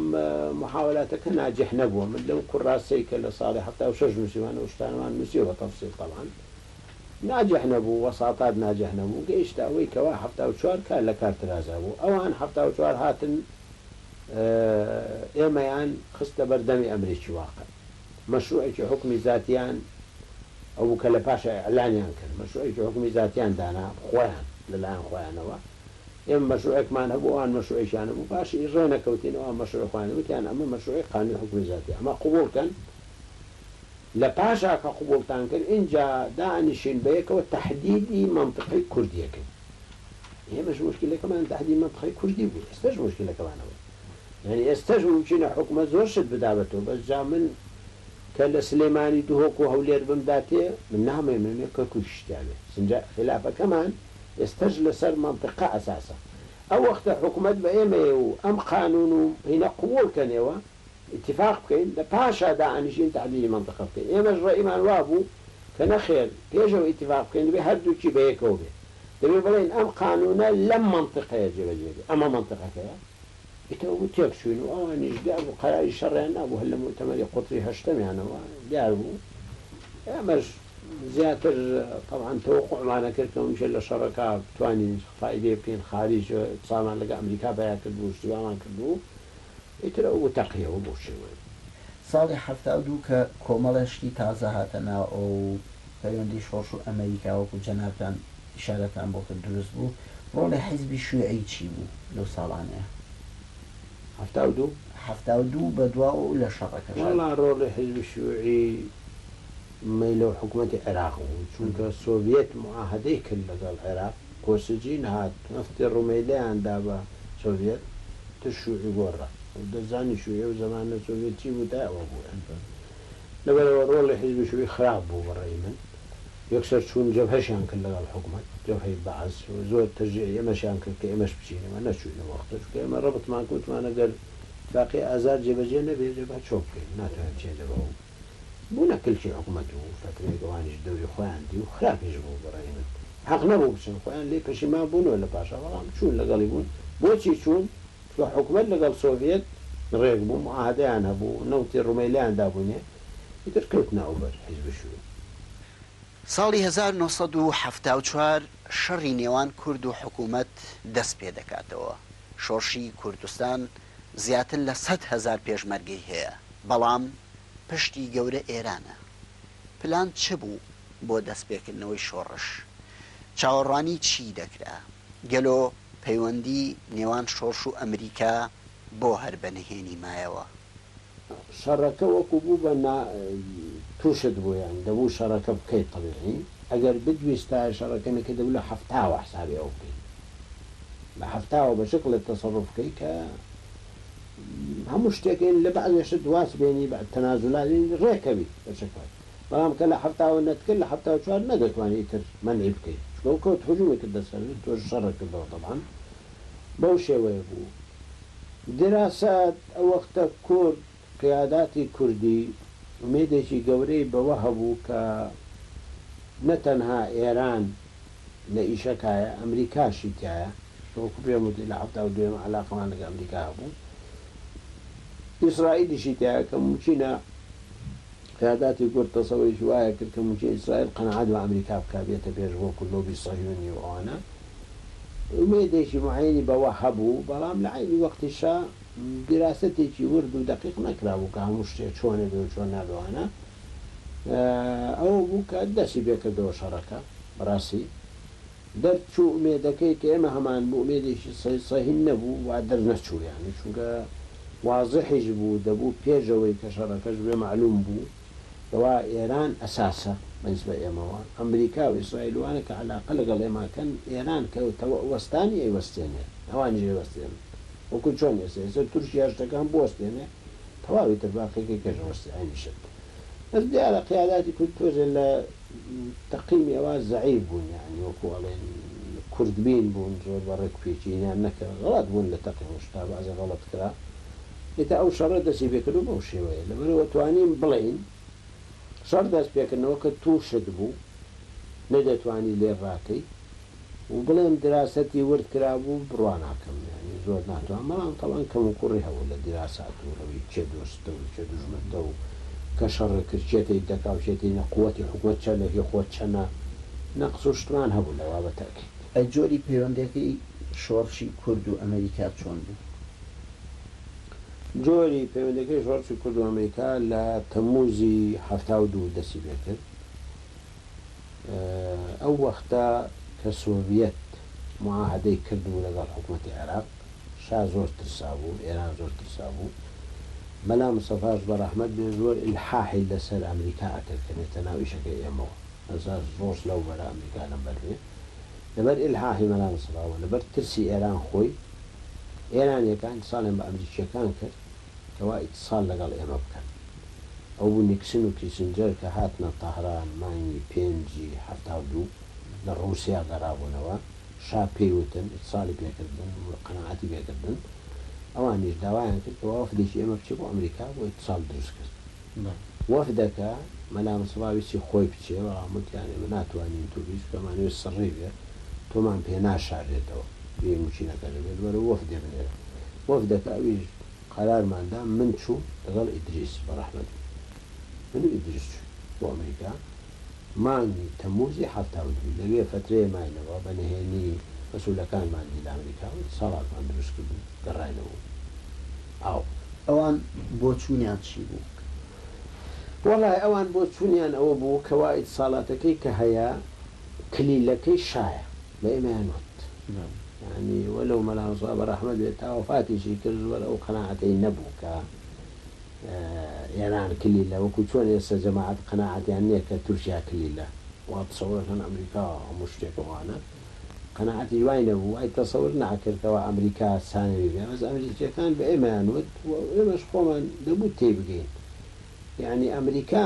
S2: موحاوەلاتەکە ناجیح نەبووە، من لەو کوراسەی کە لە ساڵی حەفتا و شەش نووسیومانە ئەو شتانەمان نووسیوە بە تەفسیل تەبعەن ناجیح نەبوو، وەساطات ناجیح نەبوو، گەیشتە ئەوەی کە وا حەفتا و چوار کار لە کار ترازا بوو، ئەوان حەفتا و چوار هاتن ئێمەیان خستە بەر دەمی ئەمریکی واقع. مەشروعێکی حوکمی زاتیان ئەوبوو کە لە پاشا ئیعلانیان کرد، مەشروعێکی حوکمی زاتیان دانا، خۆیان، لەلایەن خۆیانەوە. ئێمە مەشروعێکمان هەبوو، ئەوان مەشروعێکیان هەبوو، پاشا ئی ڕێ نەکەوتین، ئەوان مەشروعی خۆیان، وتیان ئەمە مەشروعی قانوی حوکمی زاتی، ئەمە قبوڵ کەن، لە پاشا کە قبوڵتان کرد، ئینجا دانیشین بە یەکەوە تەحدیدی مەنتقەی کوردی یەکەین. ئێمەش موشکیلەکەمان تەحدیدی مەنتقەی کوردی بوو، ئێستەش موشکیلەکەمان ئەوەیە. یانی ئێستەش مومکینە حوکمەت زۆر شت بدا بە تۆ بەس جا من کە لە سلێمانی دهۆک و هەولێر بم دا تێ من نامێ من مێ کەرکوکی شتیا بێ چنجە خیلافەکەمان ئێستەش لە سەر مەنتقە ئەساسە ئەو وەختە حوکمەت بە ئێمەیە و ئەم قانون و هینە قووڵ کەنێوە ئیتیفاق بکەین لە پاشا دانیشین تەحدیدی مەنتقە بکەین ئێمەش ڕەئیمان وا بوو کە نەخێر پێش ئەوەی ئیتیفاق بکەین دەبێ هەردووکی بە یەکەوە بێت دەبێت بڵێین ئەم قانوونە لەم مەنتیقەیە جێبەجێ بێت، ئەمە مەنتیقەکەیە، ئیتر ئەوە تێکچووین و ئەوانیش دیار بوو قەراری شەڕیان نابوو هەر لە موتەمەری قوتری هەشتەمیانەوە دیار بوو، ئێمەش زیاتر تەبعەن تەوەقوعمان ئەکرد کە ممکن لە شەڕەکە بتوانین فایدەی بکەین، خالیج قسامان لەگەڵ ئەمریکا پیا کرد بوو، ئیشتیبامان کرد بوو. ئیتر ئەو وتە قیەوە بۆ شێوەیە. ساڵی حەفتا
S1: و دوو کە کۆمەڵێ شتی تازە هاتە ناوەوە و پەیوەندی شۆڕش و ئەمەریکا وەکو جەنابتان ئیشارەتان بۆ کرد دروست بوو، ڕۆڵی حیزبی شویعی چی بوو لەو ساڵانەیا؟ حەفتا و دوو؟ حەفتا و دوو بەدواوە و لە شەڕەکەشدا. وەڵا ڕۆڵی حیزبی
S2: شویعی. مەیلە و حکومەتی عێراق بوو چونکە سۆڤیەت موعاهەدەی کرد لەگەڵ عێراق کۆسجین هات نەفتی ڕومەیلەیان دا بە سۆڤیەت تر شوعی گۆڕا و دەزانی شوعی ئەو زەمانە سۆڤیەت چی بوو تا ئەوە بوو ئەمڕۆ لەبەر ئەوە ڕۆڵی حیزبی شوعی خراپ بوو بە ڕەئی من یەکسەر چوون جەبهەشیان کرد لەگەڵ حکومەت جەبهەی بەعس و زۆر تەشجیعی ئێمەشیان کرد کە ئێمەش بچین و نەچووین ئەو وەختە چونکە ئێمە ڕەبتمان کە وتمان ئەگەر ئیتفاقیە ئازار جێبەجێ نەبێ جەبهە چۆن بکەین ناتوانین بچین جەبهە و بونە کلکی حکومەت و فەترەیەک ئەوانیش دەوری خۆیان دی و خراپیش بوو بە رای من حەق نەبوو بچن خۆیان لێ پەشیمان بونەوە لە پاشا بەڵام چون لەگەڵی بون بۆچی چون چونکە حکومەت لەگەڵ سۆڤیەت رێک بوو معاهەدەیان هەبوو نەوتی رومێلیان دابونێ ئیتر کەوتنە ئەوبەر حیزب شوین.
S1: ساڵی هەزار و نۆ سەد و حەفتا و چوار شەڕی نێوان کورد و حکومەت دەست پێدەکاتەوە شۆڕشی کوردستان زیاتر لە سەد هەزار پێشمەرگەی هەیە، بەڵام پشتی گەورە ئێرانە. پلان چ بوو بۆ دەستپێکردنەوەی شۆڕش؟ چاوەڕوانی چی دەکرا؟ گەلۆ پەیوەندی نێوان شۆڕش و ئەمریکا بۆ هەر بە نهێنی مایەوە؟
S2: شەڕەکە وەکو بوو بە نا تووشت بوو یان دەبوو شەڕەکە بکەیت تەبیعی ئەگەر بدویستایە شەڕەکە نەکەیت دەبوو لە حەفتاوە حسابی ئەوە بکەیت. بە هەفتاوە بە شکڵێک تەسەروف کەی کە هەموو شتێک یەنی لە بەعزێ شت واز بێنی بە تەنازولات یەنی ڕێ کەوی بە شکڵێک بەڵام کە لە هەفتاوە نەتکرد لە هەفتاو چوار نەدەتوانی ئیتر مەنعی بکەی چونکە ئەو کەوت هجومی کردە سەرت تۆش شەڕت کردەوە تەبعەن بەو شێوەیە بوو دراسات ئەو وەختە کورد قیاداتی کوردی ئومێدێکی گەورەی بەوە هەبوو کە نە تەنها ئێران لە ئیشەکایە، ئەمریکاشی تیایە، کە وەکو پێم وتی لە حەفتا و دوویەم عەلاقەمان لەگەڵ ئەمریکا هەبوو، ئیسرائیلیشی تیایە کە مومکینە قیاداتی کورد تەسەوەیەکی وایە کرد کە مومکینە ئیسرائیل قەناعەت بە ئەمریکا بکا بێتە پێش وەکو لۆبی سەهیونی و ئەوانە، ئومێدێکی موعەیەنی بەوە هەبوو، بەڵام لە عەینی وەقتیشا، دیراسەتێکی ورد و دەقیق نەکرابوو کە هەموو شتێ چۆنە بێ و چۆن نابێ وانە ئەوە بوو کە دەسی پێ کردەوە شەڕەکە بەڕاستی دەر چوو ئومێدەکەی کە ئێمە هەمان بوو ئومێدێکی سە سەهین نەبوو وا دەر نەچوو یانی چونکە وازحیش بوو دەبوو پێش ئەوەی کە شەڕەکەش بێ مەعلووم بوو کوا ئێران ئەساسە بەنسبە ئێمەوە ئەمریکا و ئیسرائیل وانە کە عەلاقە لەگەڵ ئێمە ئەکەن ئێران کە تەوە وەستانی ئەیوەستێنێ ئەوانیش ئەیوەستێنن وەکو چۆن ئێستا ئێستا تورکیا شتەکان بوەستێنێ تەواو ئیتر باقی کە کەش ئەوەستێ ئەنی شت بەس دیارە قیاداتی کورد تۆزێ لە تەقیمی ئەوا زەعیف بوون یانی وەکو ئەڵێن کورد بین بوون زۆر بە ڕێک پێچینیان نەکرد غەڵەت بوون لە تەقیم و شتا بەعزێ غەڵەت کرا ئیتر ئەو شەڕە دەستی پێکردو بەو شێوەیە لەبەرئەوە توانیم بڵێین شەڕ دەست پێکردنەوەکە توشت بوو نەدەتوانی لێ ڕاکەی و بڵێم دراسەتی ورد کرابوو بڕواناکەم یانی زۆر ناتوان بەڵام تەبان کەموکوڕی هەبوو لە دراسات و ئەوی کێ دۆستتە و کێ دوژمنتە و کە شەڕت کرد کێ تەیت دەکا و کێ تەی نە قوەتی حکومەت چەنە هی خۆت چەنە نەقس و شتمان هەبوو لەوا بە تەئکید. ئەی جۆری
S1: پەیوەندیەکەی شۆڕشی کورد و ئەمەریکا چۆن بوو؟
S2: جۆری پەیوەندیەکەی شۆڕشی کورد و ئەمریکا لە تەمموزی حەفتا و دوو دەستی پێکرد. ئەو وەختە کە سۆڤیەت موعاهەدەی کردبوو لەگەڵ حکومەتی عێراق، شا زۆر ترسابوو، ئێران زۆر ترسابوو. مەلا مستەفاش بە ڕەحمەت بێ زۆر ئیلحاحی لە سەر ئەمریکا ئەکرد کە بێتە ناو ئیشەکەی ئێمەوە. ئێستا شۆڕش لەو بەرە ئەمریکا لەم بەر بێ. لەبەر ئیلحاحی مەلا مستەفا و لەبەر ترسی ئێران خۆی، ئێرانیەکان ئیتسالیان بە ئەمریکیەکان کرد کەوا ئیتسال لەگەڵ ئێمە بکەن ئەوبوو نیکسن و کیسنجەر کە هاتنە تەهران مانگی پێنجی حەفتا و دوو لە ڕوسیا گەڕابونەوە شا پێی وتن ئیتسالی پێکردن و قەناعەتی پێکردن ئەوانیش داوایان کرد کەوا وەفدێکی ئێمە بچێ بۆ ئەمریکا بۆ ئیتسال دروست کرد. وەفدەکە مەلام سڵا ویستی خۆی بچێ بەڵام وتیان ئێمە ناتوانین تۆ بیست کە مانەوێ سڕی بێ تۆمان پێ ناشارێتەوە بێ موچینەکە دەبێت بەرەو وەفدێ بنێرە وەفدەکە ئەویش قەرارمان دا من چووم لەگەڵ ئیدریس بەڕەحمەتی من و ئیدریس چووین بۆ ئەمریکا مانگی تەمووزی حەفتا و دوو، لەوێ فەترەیە ماینەوە، بە نهێنی مەسئولەکانمان دی لە ئەمریکا و دەسەڵاتمان دروست کرد و گەڕاینەوە و ئاو.
S1: ئەوان بۆچوونیان چی بوو؟
S2: وەڵای ئەوان بۆچوونیان ئەوە بوو کەوا ئیتساڵاتەکەی کە هەیە کلیلەکەی شایە، بە ئێمەیان وت. یانی وەلەو مەلا مستەفا بەڕەحمەت بێت تا وەفاتیشی کرد زۆر ئەو قەناعەتەی نەبوو کە ئێران کلیلە وەکو چۆن ئێستا جەماعەت قەناعەتیان نیە کە تورکیا کلیلە وا تەسەور ئەکەن ئەمریکا هەموو شتێکە وانە قەناعەتیش وای نەبوو وای تەسەور ناکرد کەوا ئەمریکا سانەوی بێ بەس ئەمریکیەکان بە ئێمەیان وت و ئێمەش خۆمان دەبوو تێی بگەین یەعنی ئەمریکا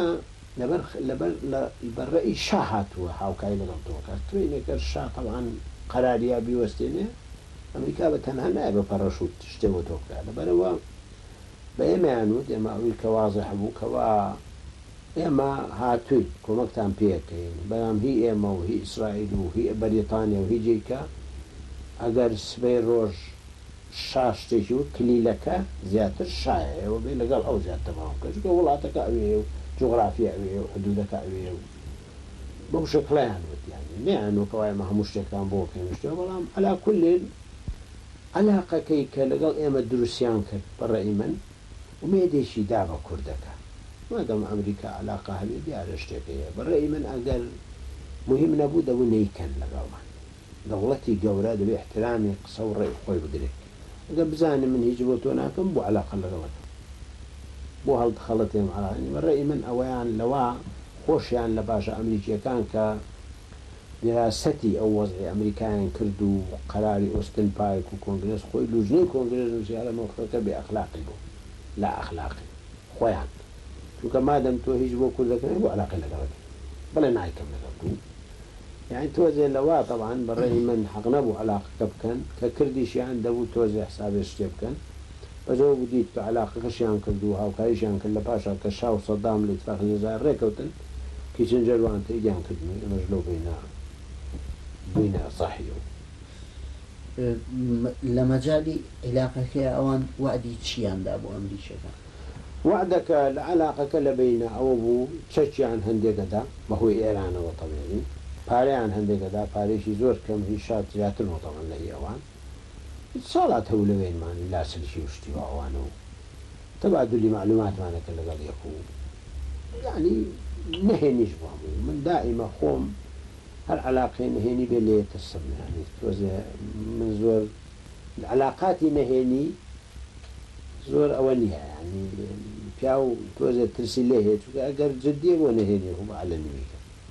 S2: لەبەر لەبەر لە بە ڕەئی شا هاتووە هاوکای لەگەڵ تۆ کات تۆی نەکەر شا تەبعەن قەراری یا بیوەستێنێ ئەمریکا بە تەنها نایە بە پەڕەشوت شتێ بۆ تۆ بکا لەبەرئەوە بە ئێمەیان وت ئێمە ئەوی کە وازح بوو کە وا ئێمە هاتووین کۆمەکتان پێکەین بەلام هی ئێمە و هی ئیسرائیل و هی بەریتانیا و هی جیکە ئەگەر سبەی رۆژ شا شتێکی وت کلیلەکە زیاتر شایە ئێوە بێ لەگەڵ ئەو زیاد تەفاهم بکەن چونکە وڵاتەکە ئەوێیە و جوغرافیا ئەوێیە و حدودەکە ئەوێیە و بەو شەکلەیان وت یانی نەیانوت کە وا ئێمە هەموو شتێکتان بۆکەین و شتێ بەڵام عەلا کولین عەلاقەکەی کە لەگەڵ ئێمە دروستیان کرد بە ڕەئی من ئومێدێکی دا بە کوردەکان. مادام ئەمریکا عەلاقە هەبێ دیارە شتێک هەیە. بە ڕەئی من ئەگەر موهیم نەبوو دەبوو نەیکەن لەگەڵمان. دەوڵەتی گەورە دەبێ ئیحترامی قسە و ڕەئی خۆی بگرێ. ئەگەر بزانێ من هیچ بۆ تۆ ناکەم بۆ عەلاقە لەگەڵ ئەکەم؟ بۆ هەڵدخەڵەتێم عەلاقە؟ بە ڕەئی من ئەوەیان لەوە خۆشیان لە باشە ئەمریکییەکان کە. دیراسەتی ئەو وەزعی ئەمریکایان کرد و قەراری ئۆستن پارک و کۆنگرێس خۆی لوجنەی کۆنگرێس نوسی هەرە مەوقفەکە بێ ئەخلاقی بوو لا ئەخلاقی خۆیان چونکە مادەم تۆ هیچ بۆ کوردەکە نەبوو بۆ عەلاقەی لەگەڵت بڵێ نایکەم لەگەڵ دوو یانی تۆزێ لەوا تەبعەن بەڕێی من حەق نەبوو عەلاقەکە بکەن کە کردیشیان دەبوو تۆزێ حسابێ شتێ بکەن بە جەوە بودیت کە عەلاقەکەشیان کرد و هاوکاریشیان کرد لە پاشا کە شا و سەدام لە ئیتفاقی جەزائر ڕێکەوتن کیچنجەر وان تەئیدیان کردن و ئێمەش لەو بەینە بووینە ساحی ئەو. لە مەجالی عیلاقەکەیا ئەوان
S1: وەعدی چییان دا بۆ ئەمریکیەکان؟ وەعدەکە
S2: لە عەلاقەکە لە بەینە ئەوە بوو چەکیان هەندێک ئەدا بە هۆی ئێرانەوە تەبیعی، پارەیان هەندێک ئەدا پارەیەکی زۆر کەم هی شا زیاتر بوو تەبعەن لە هی ئەوان. ساڵات هەموو لەوێنمان لاسلکی و شتی واوانە و تەبادولی مەعلوماتمان ئەکرد لەگەڵ یەک و یانی نەهێنیش بووە هەمووی من دائیمە خۆم هەر عەلاقەی نەهێنی بێ لێ ترسم یانی تۆزێ من زۆر عەلاقاتی نەهێنی زۆر ئەوە نییە یانی پیاو تۆزێ ترسی لێ هەیە چونکە ئەگەر جدیە بۆ نەهێنی ڕووبەعە لە نویکە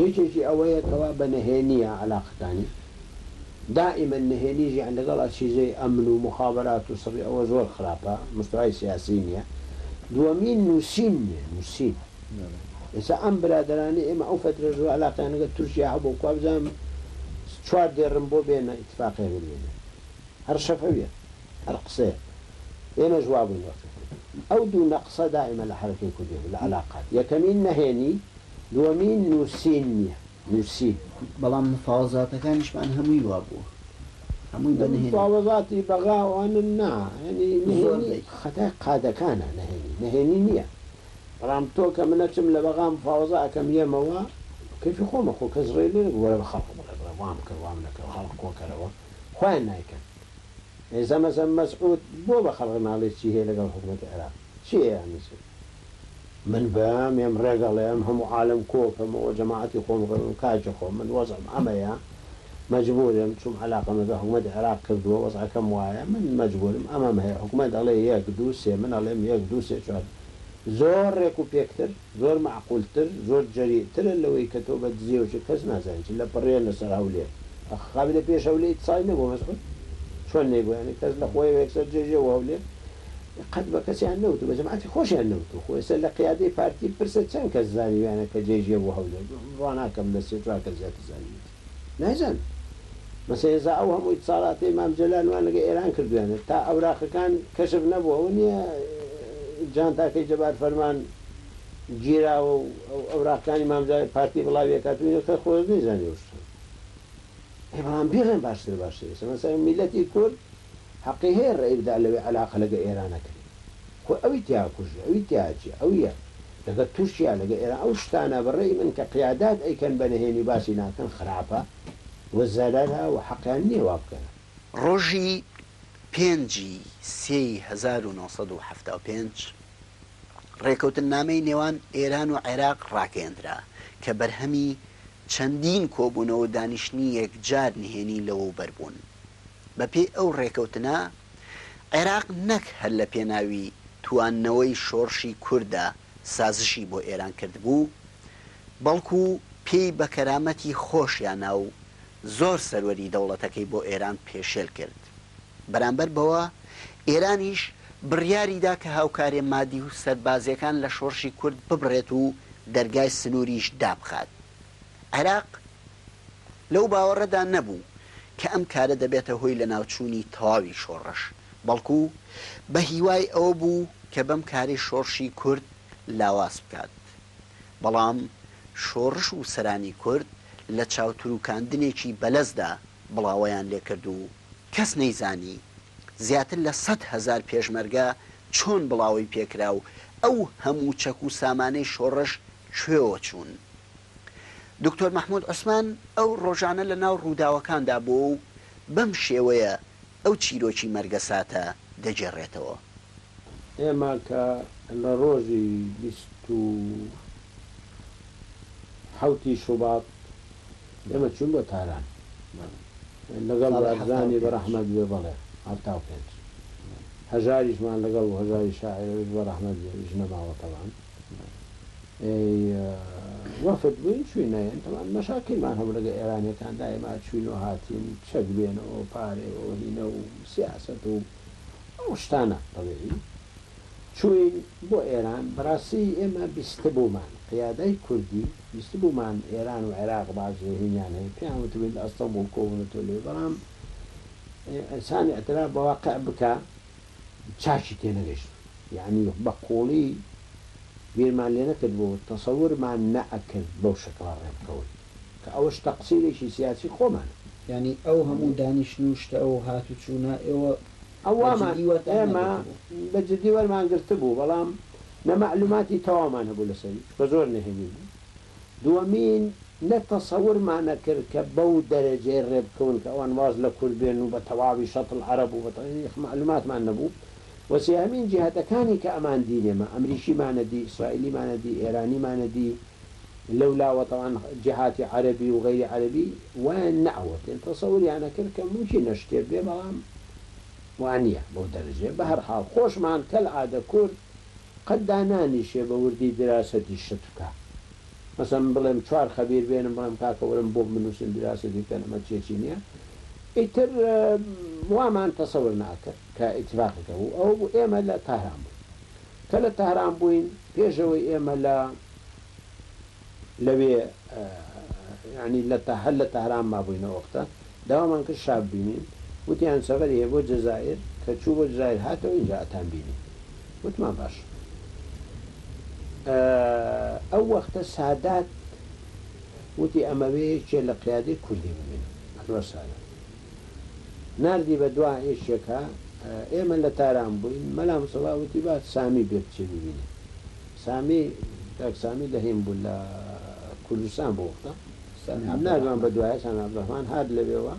S2: یەکێکی ئەوەیە کەوا بە نەهێنییە عەلاقەکانی، دائیمەن نەهێنی ژیان لەگەڵ ئەچیزەی ئەمن و موخابەرات و سڕی ئەوە زۆر خراپە، مستەوای سیاسیی نییە. دووەمین نووسین نییە، نووسین. ئێستا ئەم برادەرانەی ئێمە ئەو فەترە زۆر عەلاقەیان لەگەڵ تورکیا هەبوو، کوا بزانم چوار دێڕن بۆ بێنە ئیتفاقییەک بنوێنن. هەر شەفەویە، هەر قسەیە. ئێمەش وا بووین وەختێک. ئەو دوو نەقسە دائیمەن لە حەرەکەی کوردی هەبوو، لە عەلاقات. یەکەمین نەهێنی. دووەمین نووسین نییە، نووسین. بەڵام
S1: مفاوەزاتەکانیشمان هەمووی وا بووە، هەمووی بە نهێنی. مفاوەزاتی بەغا
S2: وانن نا، یانی نهێنی خەتای قادەکانە، نهێنی، نهێنی نییە. بەڵام تۆ کە من ئەچم لە بەغا مفاوەزا ئەکەم یێمەوە، بە کەیفی خۆمە، خۆ کەس ڕێی لێ نەگرت، وەرە بە خەڵک بڵێ، بڵێ وام کرد، وام نەکرد، خەڵک کۆ کەرەوە، خۆیان نایکەن. ئێ زەمەزەم مەسعوود بۆ بە خەڵک ناڵێ چی هەیە لەگەڵ حکوومەتی عێراق؟ چییە یانی چی؟ من بە مێم ڕێک ئەڵێم هەموو عالەم کۆکەمەوە و جەماعەتی خۆم ڕەوێم کاکی خۆم من وەزعم ئەمەیە مەجبورم چوم عەلاقەمە بە حکومەتی عێراق کردوە وەزعەکەم وایە من مەجبورم ئەمەم هەیە حکومەت ئەڵێ یەک دوو سێ من ئەڵێم یەک دوو سێ چوار زۆر ڕێک و پێکتر زۆر مەعقول تر زۆر جەریئ ترە لەوەی کە تۆ بە دزێو چی کەس نازانی چی لە پڕێنە سەر هەولێر ئەخ خابی لە پێش هەولێیت سای نەبوە مەسعود چۆن نەیبوە یانی کەس لە خۆیەوە یەکسەر جێژێ و هەولێر قەت بە کەسیان نەوت و بە جەماعەتی خۆشیان نەوت و خۆ ئێستا لە قیادەی پارتی بپرسە چەند کەس زانیویانە کە جێ ژێ بۆ هەولێر بڕوا ناکەم لە سێ چوار کەس زیاتر زانیویەتی نایزان مەسە ئێزا ئەو هەموو ئیتسالاتەی مام جەلال وان لەگە ئێران کردویانە تا ئەوراقەکان کەشف نەبوو ئەوە نیە جانتاکەی جەبار فەرمان گیراوە و ئەو ئەوراقەکانی مام جەلال پارتی بڵاوی ئەکات و ئینە کە خۆز نەیزانی ئەو شتانە ئێ بەڵام بیڵێن باشترە باشترە ئێستا مەسەلەن میلەتی کورد هەقی هەیە ڕەئی بدا لەوەی عەلاقە لەگە ئێران نەکرێ خۆ ئەوی تیا کوژی ئەوی تیا جیە ئەویە لەگە تورکیا لەگە ئێران ئەو شتانە بە ڕەئی من کە قیادات ئەیکەن بە نەهێنی باسی ناکەن خراپە و زەرەرە و حەقیان نیە وا بکەن. ڕۆژی
S1: پێنج ی سێ ی هەزار و نۆ سەد و حەفتا و پێنج ڕێکەوتننامەی نێوان ئێران و عێراق ڕاگەیەندرا کە بەرهەمی چەندین کۆبوونەوە و دانیشتنی یەکجار نهێنی لەوەوبەر بوون. بەپێی ئەو ڕێکەوتنە، عێراق نەک هەر لە پێناوی تواندنەوەی شۆڕشی کورددا سازشی بۆ ئێران کردبوو، بەڵکو پێی بە کەرامەتی خۆشیانا و زۆر سەروەری دەوڵەتەکەی بۆ ئێران پێشێل کرد. بەرامبەر بەوە، ئێرانیش بڕیاری دا کە هاوکاریە مادی و سەربازیەکان لە شۆڕشی کورد ببڕێت و دەرگای سنوریش دابخات. عێراق لەو باوەڕەدا نەبوو کە ئەم کارە دەبێتە هۆی لەناوچوونی تەواوی شۆڕش، بەڵکوو بە هیوای ئەوە بوو کە بەم کارەی شۆڕشی کورد لاواز بکات. بەڵام شۆڕش و سەرانی کورد لە چاوترووکاندنێکی بەلەزدا، بڵاوەیان لێ کرد و کەس نەیزانی زیاتر لە سەد هەزار پێشمەرگە چۆن بڵاوەی پێ کرا و ئەو هەموو چەک و سامانەی شۆڕش کوێوە چوون. دوکتۆر مەحموود عوسمان ئەو ڕۆژانە لە ناو ڕووداوەکاندا بووە و بەم شێوەیە ئەو چیرۆکی مەرگەساتە دەگێڕێتەوە. ئێمە
S2: کە لە ڕۆژی بیست و حەوتی شوباط ئێمە چووین بۆ تاران. بەڵێ. لەگەڵ ساڵی حەفتا و بارزانی پێنج. بەڕەحمەت بێ بەڵێ حەفتا و پێنج. هەژاریشمان لەگەڵ بوو هەژاری شاعیرەوەش بەڕەحمەت بێ ئیش نەماوە تەبعەن. ئێی وەفد بووین چووینە یەن تەبعەن مەشاکیلمان هەبوو لەگە ئێرانیەکان دایما چووین و هاتین چەک بێنەوە و پارەی و هینە و سیاسەت و ئەو شتانە تەبعی. چووین بۆ ئێران بەڕاستی ئێمە بیستبوومان قیادەی کوردی بیستبوومان ئێران و عێراق باج رهینیان هەیە پێیان وتبووین لە ئەستەمبوڵ کۆبوونەتەوە لێ بەڵام ئینسان اعتراف بە واقع بکا چاکی تێنەگەشتین یەعنی بە قوڵی بیرمان لێ نەکردبوو تەسەورمان نەئەکرد بەو شەکڵە رێبکەون کە ئەوەش تەقسیرێکی سیاسی خۆمانە. یەعنی ئەو هەموو
S3: دانیشتن و شتە و هاتوچوونە ئێوە بە جدی وەرتان نەگرتبوو.
S2: ئەوەمان ئێمە بە جدی وەرمان گرتبوو، بەڵام نە مەعلوماتی تەواومان هەبوو لەسەری، بە زۆر نهێنی بوو. دووەمین، نە تەسەورمان ئەکرد کە بەو دەرەجەی ڕێ بکەون کە ئەوان واز لە کورد بێنن و بە تەواوی شەتڵ عەرەب و بە تەواوی ئیخ مەعلوماتمان نەبوو. وە سێهەمین، جیهەتەکانی کە ئەماندین ئێمە، ئەمریکیمان ئەدی، ئیسرائیلیمان ئەدی، ئێرانیمان ئەدی، لەولاوە تەبعەن جەهاتی عەرەبی و غەیری عەرەبی وایان نەئەوەتێن تەسەوریان ئەکرد کە مومکینە شتێ بێ بەڵام وانیە بەو دەرەجەیە بەهەرحاڵ خۆشمان کەل عادە کورد قەت دانانیشێ بە وردی دراسەتی شت بکا مەسەن من بڵێم چوار خەبیر بێنم بڵێم کاکە وەرن بۆم بنوسن دراسەتی بکەن ئەمە چێچی نیە ئیتر وامان تەسەور نەئەکرد کە ئیتفاقی کە بوو ئەوە بوو ئێمە لە تەهران بووین کە لە تەهران بووین پێش ئەوەی ئێمە لە لەوێ یانی لە تە هەر لە تەهران مابووینە ئۆقتە داوامان کرد شا ببینین وتیان سەفەری هەیە بۆ جەزائیر کە چوو بۆ جزایر هاتەوە ئینجا ئەتان بینین وتمان باشە ئەو وەختە سادات وتی ئەمەوێ یەکێ لە قیادەی کوردی ببینم عەنوەر سادات. ناردی بە دوا ئێشێکا ئێمە لە تاران بووین مەلا مستەفا وتی با سامی بێ بچێ ببینێ سامی کاک سامی لە هێم بوو لە کوردستان بۆ وەختە سامی عەبدولڕەحمان بە دوایە سامی عەبدولڕەحمان هات لەوێوە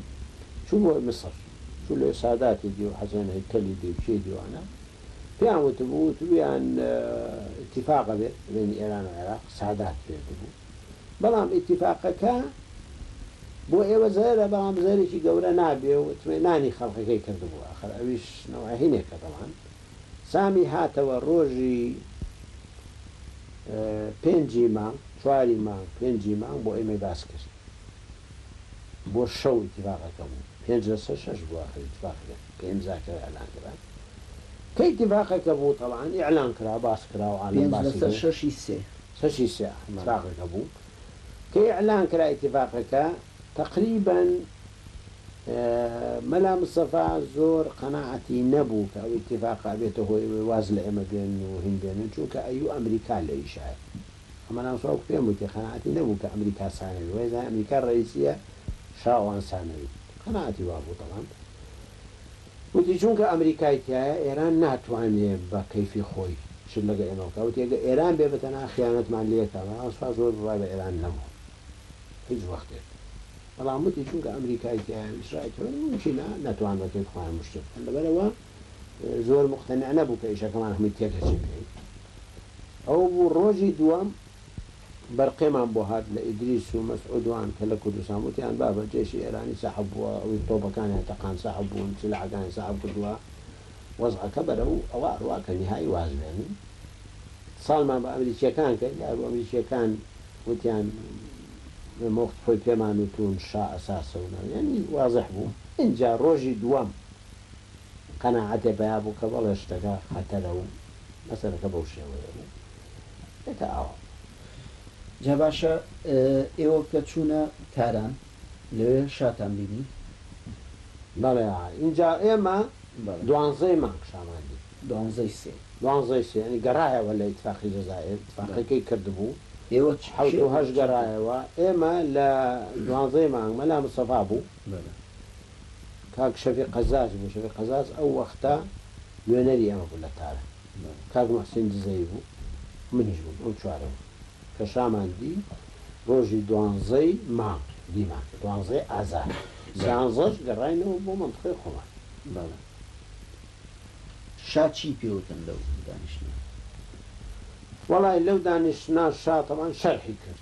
S2: چوو بۆ میسڕ چوو لەوێ ساداتی دی و حەسەن هەیکەلی دی و کێ دی وانە پێیان وتبوو وتبوویان ئیتیفاقە بێ بەینی ئێران و عێراق سادات فێردبوو بەڵام ئیتیفاقەکە بۆ ئێوە زەرەرە بەڵام زەرەرێکی گەورە نابێ و ئیتمێنانی خەڵکەکەی کردبوو ئاخر ئەویش نەوعە هینێکە بەڵام سامی هاتەوە ڕۆژی پێنجی مانگ چواری مانگ پێنجی مانگ بۆ ئێمەی باس کرد بۆ شەو ئیتیفاقەکە بوو پێنج لەسەر شەش بوو ئاخر ئیتیفاقەکە پێنج زاکەوە ئیعلان کرا کە ئیتیفاقەکە بوو تەبعەن ئیعلان کرا باس کرا و عالەم باسی کرد. پێنج لەسەر شەشی سێ.
S3: بەشی سێ ئیتفاقەکە بوو
S2: کە ئیعلان کرا ئیتفاقەکە تەقریبەن مەلا مستەفا زۆر قەناعەتی نەبوو کە ئەو ئیتفاقە ئەبێتە هۆی ئەوەی واز لە ئێمە بێنن و هین بێنن چونکە ئەیوو ئەمریکا لێی شایە کە مەلا مستەفا وەکو پێم وتی قەناعەتی نەبوو کە ئەمریکا سانەوی وەی زانی ئەمریکا ڕەئیسیە شا ئەوان سانەوین قەناعەتی وابوو تەبان وتی چونکە ئەمریکای تیایە ئێران ناتوانێ بە کەیفی خۆی شت لەگە ئێمە بکا وتی ئەگە ئێران بێ بە تەنها خیانەتمان لێکا بەڵام سوپاس بۆ بڕای بە ئێران نەبوو هیچ وەختێک بەڵام وتی چونکە ئەمریکای تیایە و ئیسرائیل تیایە مومکینە نەتوان بە کەیف خۆیان مشتێ بکەن لەبەرەوە زۆر موقتەنع نەبوو کە ئیشەکەمان هەمووی تێکەچی بکەین ئەوە بوو ڕۆژی دووەم بەرقەمان بۆ هات لە ئیدریس و مەسعود وان کە لە کوردستان وتیان بابە جەیشی ئێرانی سەحب بووە ئەوی تۆپەکانیان تەقان سەحب بوون سیلاحەکانیان سەحب کردووە وەزعەکە بەرەو ئەوە ئەڕوا کە نیهایی واز بێنن ساڵمان بە ئەمریکیەکان کرد یارو ئەمریکیەکان وتیان مۆخت خۆی پێمان وتوون شا ئەساسە و ناو یانی وازح بوو ئینجا ڕۆژی دووەم قەناعەتێ پەیا بوو کە بەڵێ شتەکە خەتەرە و مەسەلەکە بەو شێوەیە بوو. دەکا ئاوا جا
S3: باشە ئێوە کە چوونە تاران لەوێ
S2: شاتان بینی؟
S3: بەڵێ
S2: ئینجا
S3: ئێمە
S2: دوانزەی مانگ شامان دی. دوانزەی سێ.
S3: دوانزەی سێ یانی گەڕایەوە لە ئیتفاقی
S2: جەزائیر ئیتفاقەکەی کردبوو ئێوە چ حەوت
S3: و هەشت
S2: گەڕایەوە ئێمە لە دوانزەی مانگ مەلا مستەفا بوو بەلە کاک شەفیق قەزاز بوو شەفیق قەزاز ئەو وەختە نوێنەری ئێمە بوو لە تاران. کاک موحسین دزەی بوو منیش بووم ئەو چوارە بوو کە شامان دی ڕۆژی دوانزەی مانگ دیمان دوانزەی ئازار سیانزەش گەڕاینەوە بۆ مەنتقەی خۆمان بەڵێ.
S3: شا چی پێوتن لەو دانیشتنە؟
S2: وەڵای لەو دانیشتنە شا تەبان شەرحی کرد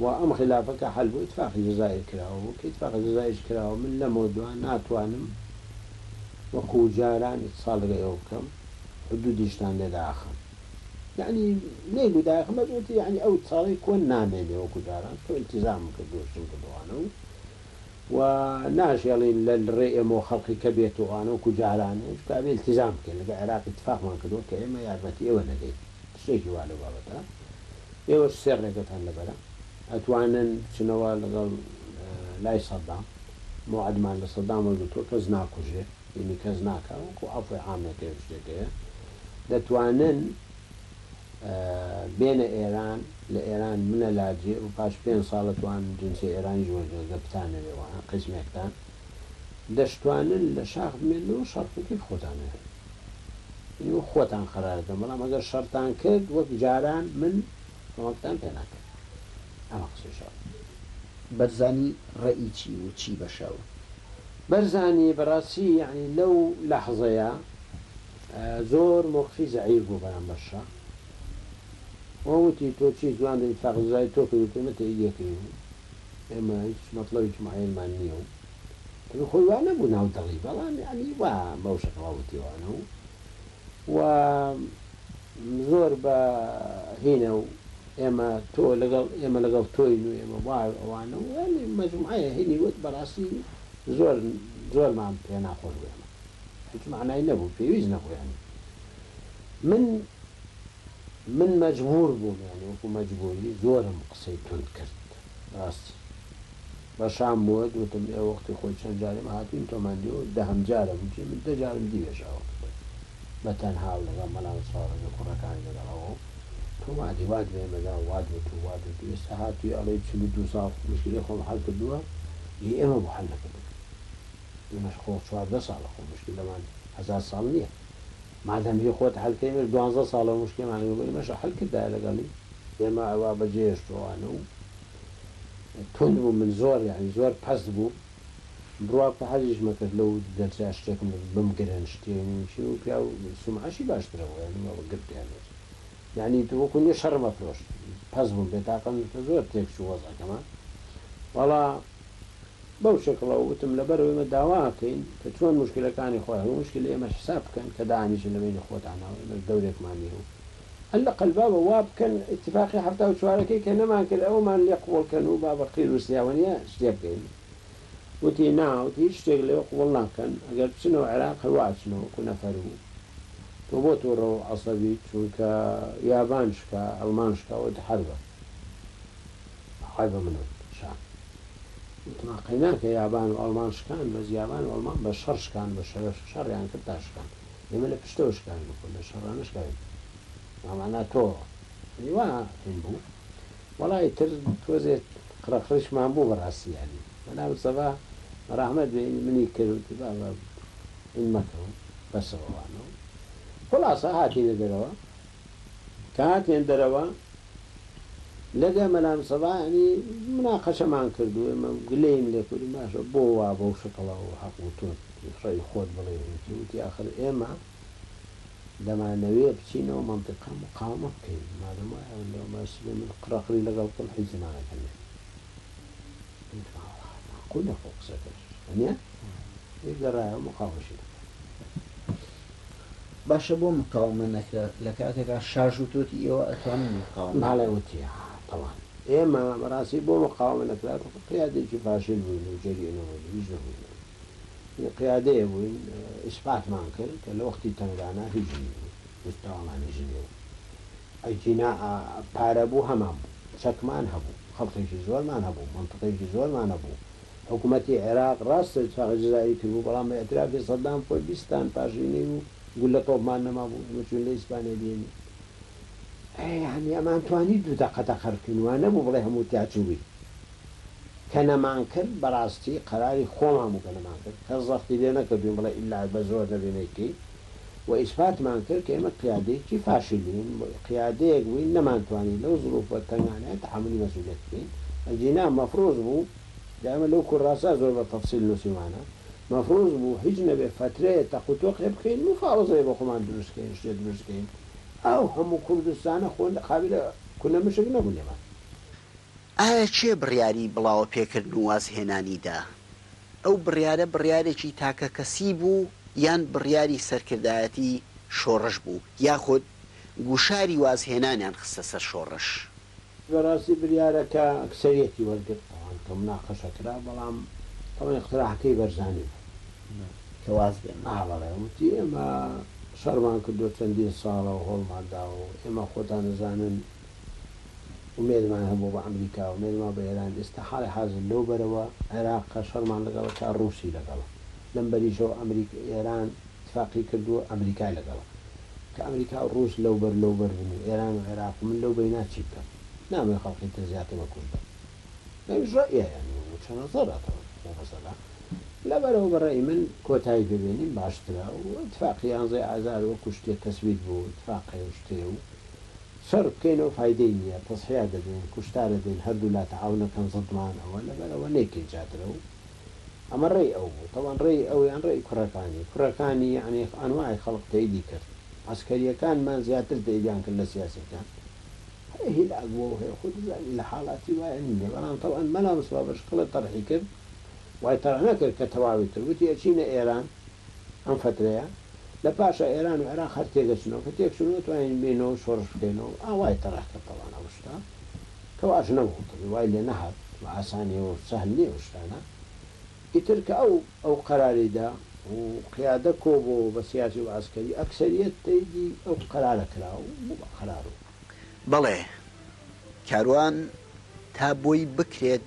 S2: و ئەم خیلافە کە حەل بۆ ئیتفاقی جەزائیر کراوە بوو کە ئیتفاقی جەزائیرش کراوە من لەمەو دوا ناتوانم وەکو جاران ئیتسال لەگەڵ ئێوە بکەم حدودیشتان لێ داخەم یەعنی نەیگو داخم بەس وتی یەعنی ئەو ئیتساڵەی کۆن نامێنێ وەکو جاران تۆ ئیلتیزامم کرد دۆستم کردوانە و و ناشێڵین لە ڕێ ئێمەوە خەڵقی کە بێتوانە وەکو جارانێ چکە ئەبێ ئیلتیزام بکەین لەگە عێراق ئیتفاقمان کردووە کە ئێمە یارمەتی ئێوە نەدەین شتێکی وا لەو بابەتە ئێوەش سێ ڕێگەتان لەبەرە ئەتوانن بچنەوە لەگەڵ لای سەدام موعدمان لە سەدام وەرگرتووە کەس ناکوژێ یعنی کەس ناکا وەکو عەفوی عامێکە و شتێکەیە دەتوانن بێنە ئێران لە ئێران منە لاجێ و پاش پێنج ساڵە توان جنسی ئێرانیش وەرگرن گە بتانەوێ وە قسمێکتان دەشتوانن لە شاخ بمێنەوە شەڕکەکەی خۆتانە یعنی وەک خۆتان قەرارەتان بەڵام ئەگەر شەڕتان کرد وەک جاران من کۆمەکتان پێ ناکەم ئەمە قسەی شەڕ بەرزانی
S3: ڕێی چی و چی بەشەو بەرزانی
S2: بەڕاستی یعنی لەو لەحزەیە زۆر مۆقفی زەعیف بوو بەرام بەرشە وەوتی تۆ چی زوان ئیتفاق زای تۆ کردو تێمە تەیدیەکەی و ئێمە هیچ مەطلبی چ معەیەنمان نییە و ئەگەر خۆی وا نەبوو ناو دەڵی بەڵام یەعنی وا بەو شەکڵە وتیوانە و و زۆر بە هینە و ئێمە تۆ لەگەڵ ئێمە لەگەڵ تۆین و ئێمە وا ئەوانە و یانی مەجموعەیە هینی وت بەڕاستی زۆر زۆرمان پێ ناخۆش بوو ئێمە هیچ معنای نەبوو پێویست نەبوو یانی من من مەجبور بووم یانی وەکو مەجبوری زۆرم قسەی تند کرد ڕاستی بە شام بۆت وتم ئێ وەختی خۆی چەند جاریم هاتوین تۆمان دیوە وت دەهەم جارە گوتی من دە جارم دیوێش ئاوەکەی خۆی بە تەنها و لەگەڵ مەلا و چاوەڕێگە کوڕەکانی لەگەڵ ئەوە و تۆمان دی وات بە ئێمە دا و وات وت و وات وت و ئێستا هاتوی ئەڵێی چل و دوو ساڵ موشکیلەی خۆم حەل کردوە ی ئێمە بۆ حەل نەکردت ئێمەش خۆ چواردە ساڵە خۆ موشکیلەمان هەزار ساڵ نیە مادەم هی خۆت حەل کەی ئێمەش دوانزە ساڵە موشکیلەمان هی ئێمەشە حەل کردایە لەگەڵی ئێمە ئەوە بە جێ هێشتوەوانە و توند بوو من زۆر یانی زۆر پەست بووم بڕوا کە حەزیش مەکرد لەو دەرجە شتێک بمگرن شتێ نیم چی و پیاو سومعەشی باشترە بۆ یانی وەڵا گرت یان هێشت یانی تۆ وەکو نیە شەڕم ئەفرۆشت پەست بووم بێ تاقەت بووم کە زۆر تێک چوو وەزعەکەمان وەڵا بەو شەکڵە و وتم لەبەر ئێمە داوا ئەکەین کە چۆن موشکیلەکانی خۆیان و موشکیلی ئێمەش حساب بکەن کە دانیشن لە بەینی خۆتانەوە ئێمەش دەورێکمان نیە و اللە قل بابە وا بکەن ئیتفاقی حەفتا و چوارەکەی کە نەمان کرد ئەوەمان لێ قبوڵ کەن و با بە قیر و سیاوەنیە شتێ بکەین وتی نا وتی هیچ شتێک لێ قبوڵ ناکەن ئەگەر بچنەوە عێراق هەر وا ئەچنەوە وەکو نەفەر و تۆ بۆ توڕە و عەسەبی چونکە یابان شکا ئەڵمان شکا وتی حەربە عەیبە منم شان وتمان قەیناکە یابان و ئەڵمان شکان بەس یابان و ئەڵمان بە شەڕ شکان بە شەرەف شەڕیان کرد تا شکان. ئێمە لە پشتەوە شکان بکۆ لە شەڕانە شکاوی مامانا تۆ وا هێن بوو وەڵی تر تۆزێت قڕەقڕیشمان بوو بەڕاستی یاری بەناوت سەبا ڕحمەت بێ منی کردوتی بابا ئین مەکەوە بەسەوەوانەوە خلاصە هاتینە دەرەوە کاک هێندەرەوە لەگە مەلا مسەبا یانی مناقەشەمان کرد و ئێمە گلەییم لێ کردین باشە بۆ وا بەو شکڵە و حەق و تۆ ڕێی خۆت بڵێ هیچ وتی ئاخر ئێمە دەمانەوێ بچینەوە مەنتیقە مقاومە بکەین مادەم وایە لەو باشتر بێ من قڕەقڕی لەگەڵ بکەم حیز زمانەکەم نەبێ وتم ئاوە معقولە خۆ قسەکەش هەنیە گەڕایەوە مقاومەشی نەکرد
S3: باشە بۆ مقاومە نەکرا لە کاتێکا
S2: شاش
S3: وتۆتی ئێوە ئەتوانن مقاومە بکەن؟ بەڵێ وتی تەوان ئێمە
S2: بەڕاستی بۆ مقاومە نەکرا تۆ قیادەیەکی فاشل بووین و جەرگی نەبووین هیچ نەبووین یە قیادەیە بووین ئیسپاتمان کرد کە لە وەختی تەنگانا هیچ نی بوو مستەوامان هیچ نی بوو ئەگینا پارە بوو هەمان بوو چەکمان هەبوو خەڵکێکی زۆرمان هەبوو مەنتقێکی زۆرمان هەبوو حکومەتی عێراق ڕاستە چاخی جەزائیری کردبوو، بەڵام بە ئیعترافی سەدام خۆی بیست تان پاشنی نەیبوو، گوللە تۆپمان نەمابوو، ئێمە چووین لە ئیسپانیا بهێنین. ئەی یەعنی ئەمان توانی دوو دەقە تەقە بکەین، وا نەبوو بڵێ هەموو تیا چووین. کە نەمانکرد بەڕاستی قەراری خۆمان بوو کە نەمانکرد، کەس زەختی لێ نەکردووین بڵێ ئیلا بە زۆر نەبێ نەیکەین، و ئیسپاتمان کرد کە ئێمە قیادەیەکی فاشیلین، بۆیە قیادەیەک بووین نەمانتوانی لەو زروفە تەنگانەیە تەحەمولی مەسئولیەت بکەین، ئەگینا مەفروز بوو، جا ئێمە لەو کوراسە زۆر بە تەفسیل نووسیومانە، مەفروز بوو هیچ نەبێ فەترەیە تەق و تۆق هێ بکەین، مفاوزەیە بۆ خۆمان دروست کەین، شتێ دروست کەین، ئەو هەموو کوردستانە خۆ قابیلە کونە مشک نەبوو لێمان. ئایا
S1: کێ بڕیاری بڵاوەپێکردن و وازهێنانی دا؟ ئەو بڕیارە بڕیارێکی تاکەکەسی بوو یان بڕیاری سەرکردایەتی شۆڕش بوو یاخود گوشاری وازهێنانیان خستە سەر شۆڕش؟ بەڕاستی
S2: بریارەکە ئەکسەریەتی وەرگرت ئەوان کە مناقەشە کرا بەڵام ئەوە ئیقتراحەکەی بەرزانی بوو
S1: کە واز بێنن. ئا بەڵێ وتی
S2: ئێمە شەڕمان کردوە چەندین ساڵە و هەوڵمان داوە و ئێمە خۆتان ئەزانن، و مێردمان هەبووە بە ئەمریکا و مێردمان بە ئێران ئێستا حاڵی حازر لەو بەرەوە عێراقە شەڕمان لەگەڵ ئەکا ڕووسی لەگەڵە لەم بەریشەوە ئەمریکا ئێران ئیتفاقی کردووە ئەمریکای لەگەڵە کە ئەمریکا و ڕووس لەو بەر لەو بەر بن و ئێران و عێراق و من لەو بەینا چی بکەم نامەوێ خەڵقی تر زیاتر بە کوشت بن ئەویش ڕەئیە یانی وچە نەزەرە تەوەن بۆ مەسەلە لە بەرەوە بە ڕەئی من کۆتایی پێ بێنین باشترە و ئیتفاقی یانزەی ئازار وەکوو شتێ تەسویت بوو ئیتفاقێ و شتێ و شەر بکەینەوە فایدەی نیە تەسحیە دەدەین کوشتارە دەین هەردوو لا تەعاونە کەن ضد من ئەوە لەبەر ئەوە نەیکەین چاترە و ئەمە ڕێی ئەو بوو تەبان ڕێی ئەو یان ڕێی کوڕەکانی کوڕەکانی یەعنی ئەنواعی خەڵق تەیدی کرد عەسکەریەکانمان زیاتر تەیدیان کرد لە سیاسیەکان هەیە هیلاک بووە و هەیە خۆت ئەزانی لە حاڵاتی وایە نینە بەڵام تەبان مەلا مستەفا بەشکڵە تەڕحی کرد وای تەڕح نەکرد کە تەواوی کرد وتی ئەچینە ئێران ئەم فەترەیە لە پاشا ئێران و عێراق هەر تێدەچنەوە، کە تێکچوون نەتوانین بێینەوە شۆڕش بکەینەوە و ئاوای تەڕح کرد تاوان ئەو شتە کە واش نەبوو تەبی وای لێ نەهات و ئاسانیە و سەهل نیە ئەو شتانە ئیتر کە ئەو ئەو قەراری دا و قیادە کۆ بۆ و بە سیاسی و عەسکەری ئەکسەریەت تەیدی ئەو قەرارە کرا و بوو بە قەرار و. بەڵێ
S1: کاروان تا بۆی بکرێت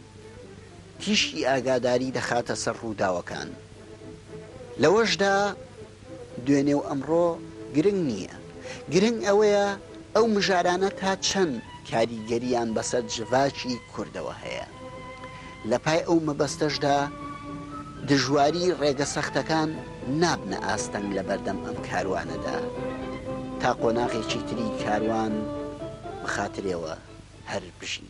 S1: تیشکی ئاگاداری دەخاتە سەر ڕووداوەکان. لەوەشدا دوێنێ و ئەمڕۆ گرنگ نییە، گرنگ ئەوەیە ئەو مژارانە تا چەند کاریگەرییان بەسەر جڤاکی کوردەوە هەیە. لە پای ئەو مەبەستەشدا دژواری ڕێگە سەختەکان نابنە ئاستەنگ لە بەردەم ئەم کاروانەدا تا قۆناغێکی تری کاروان بخاترێوە هەر بژین.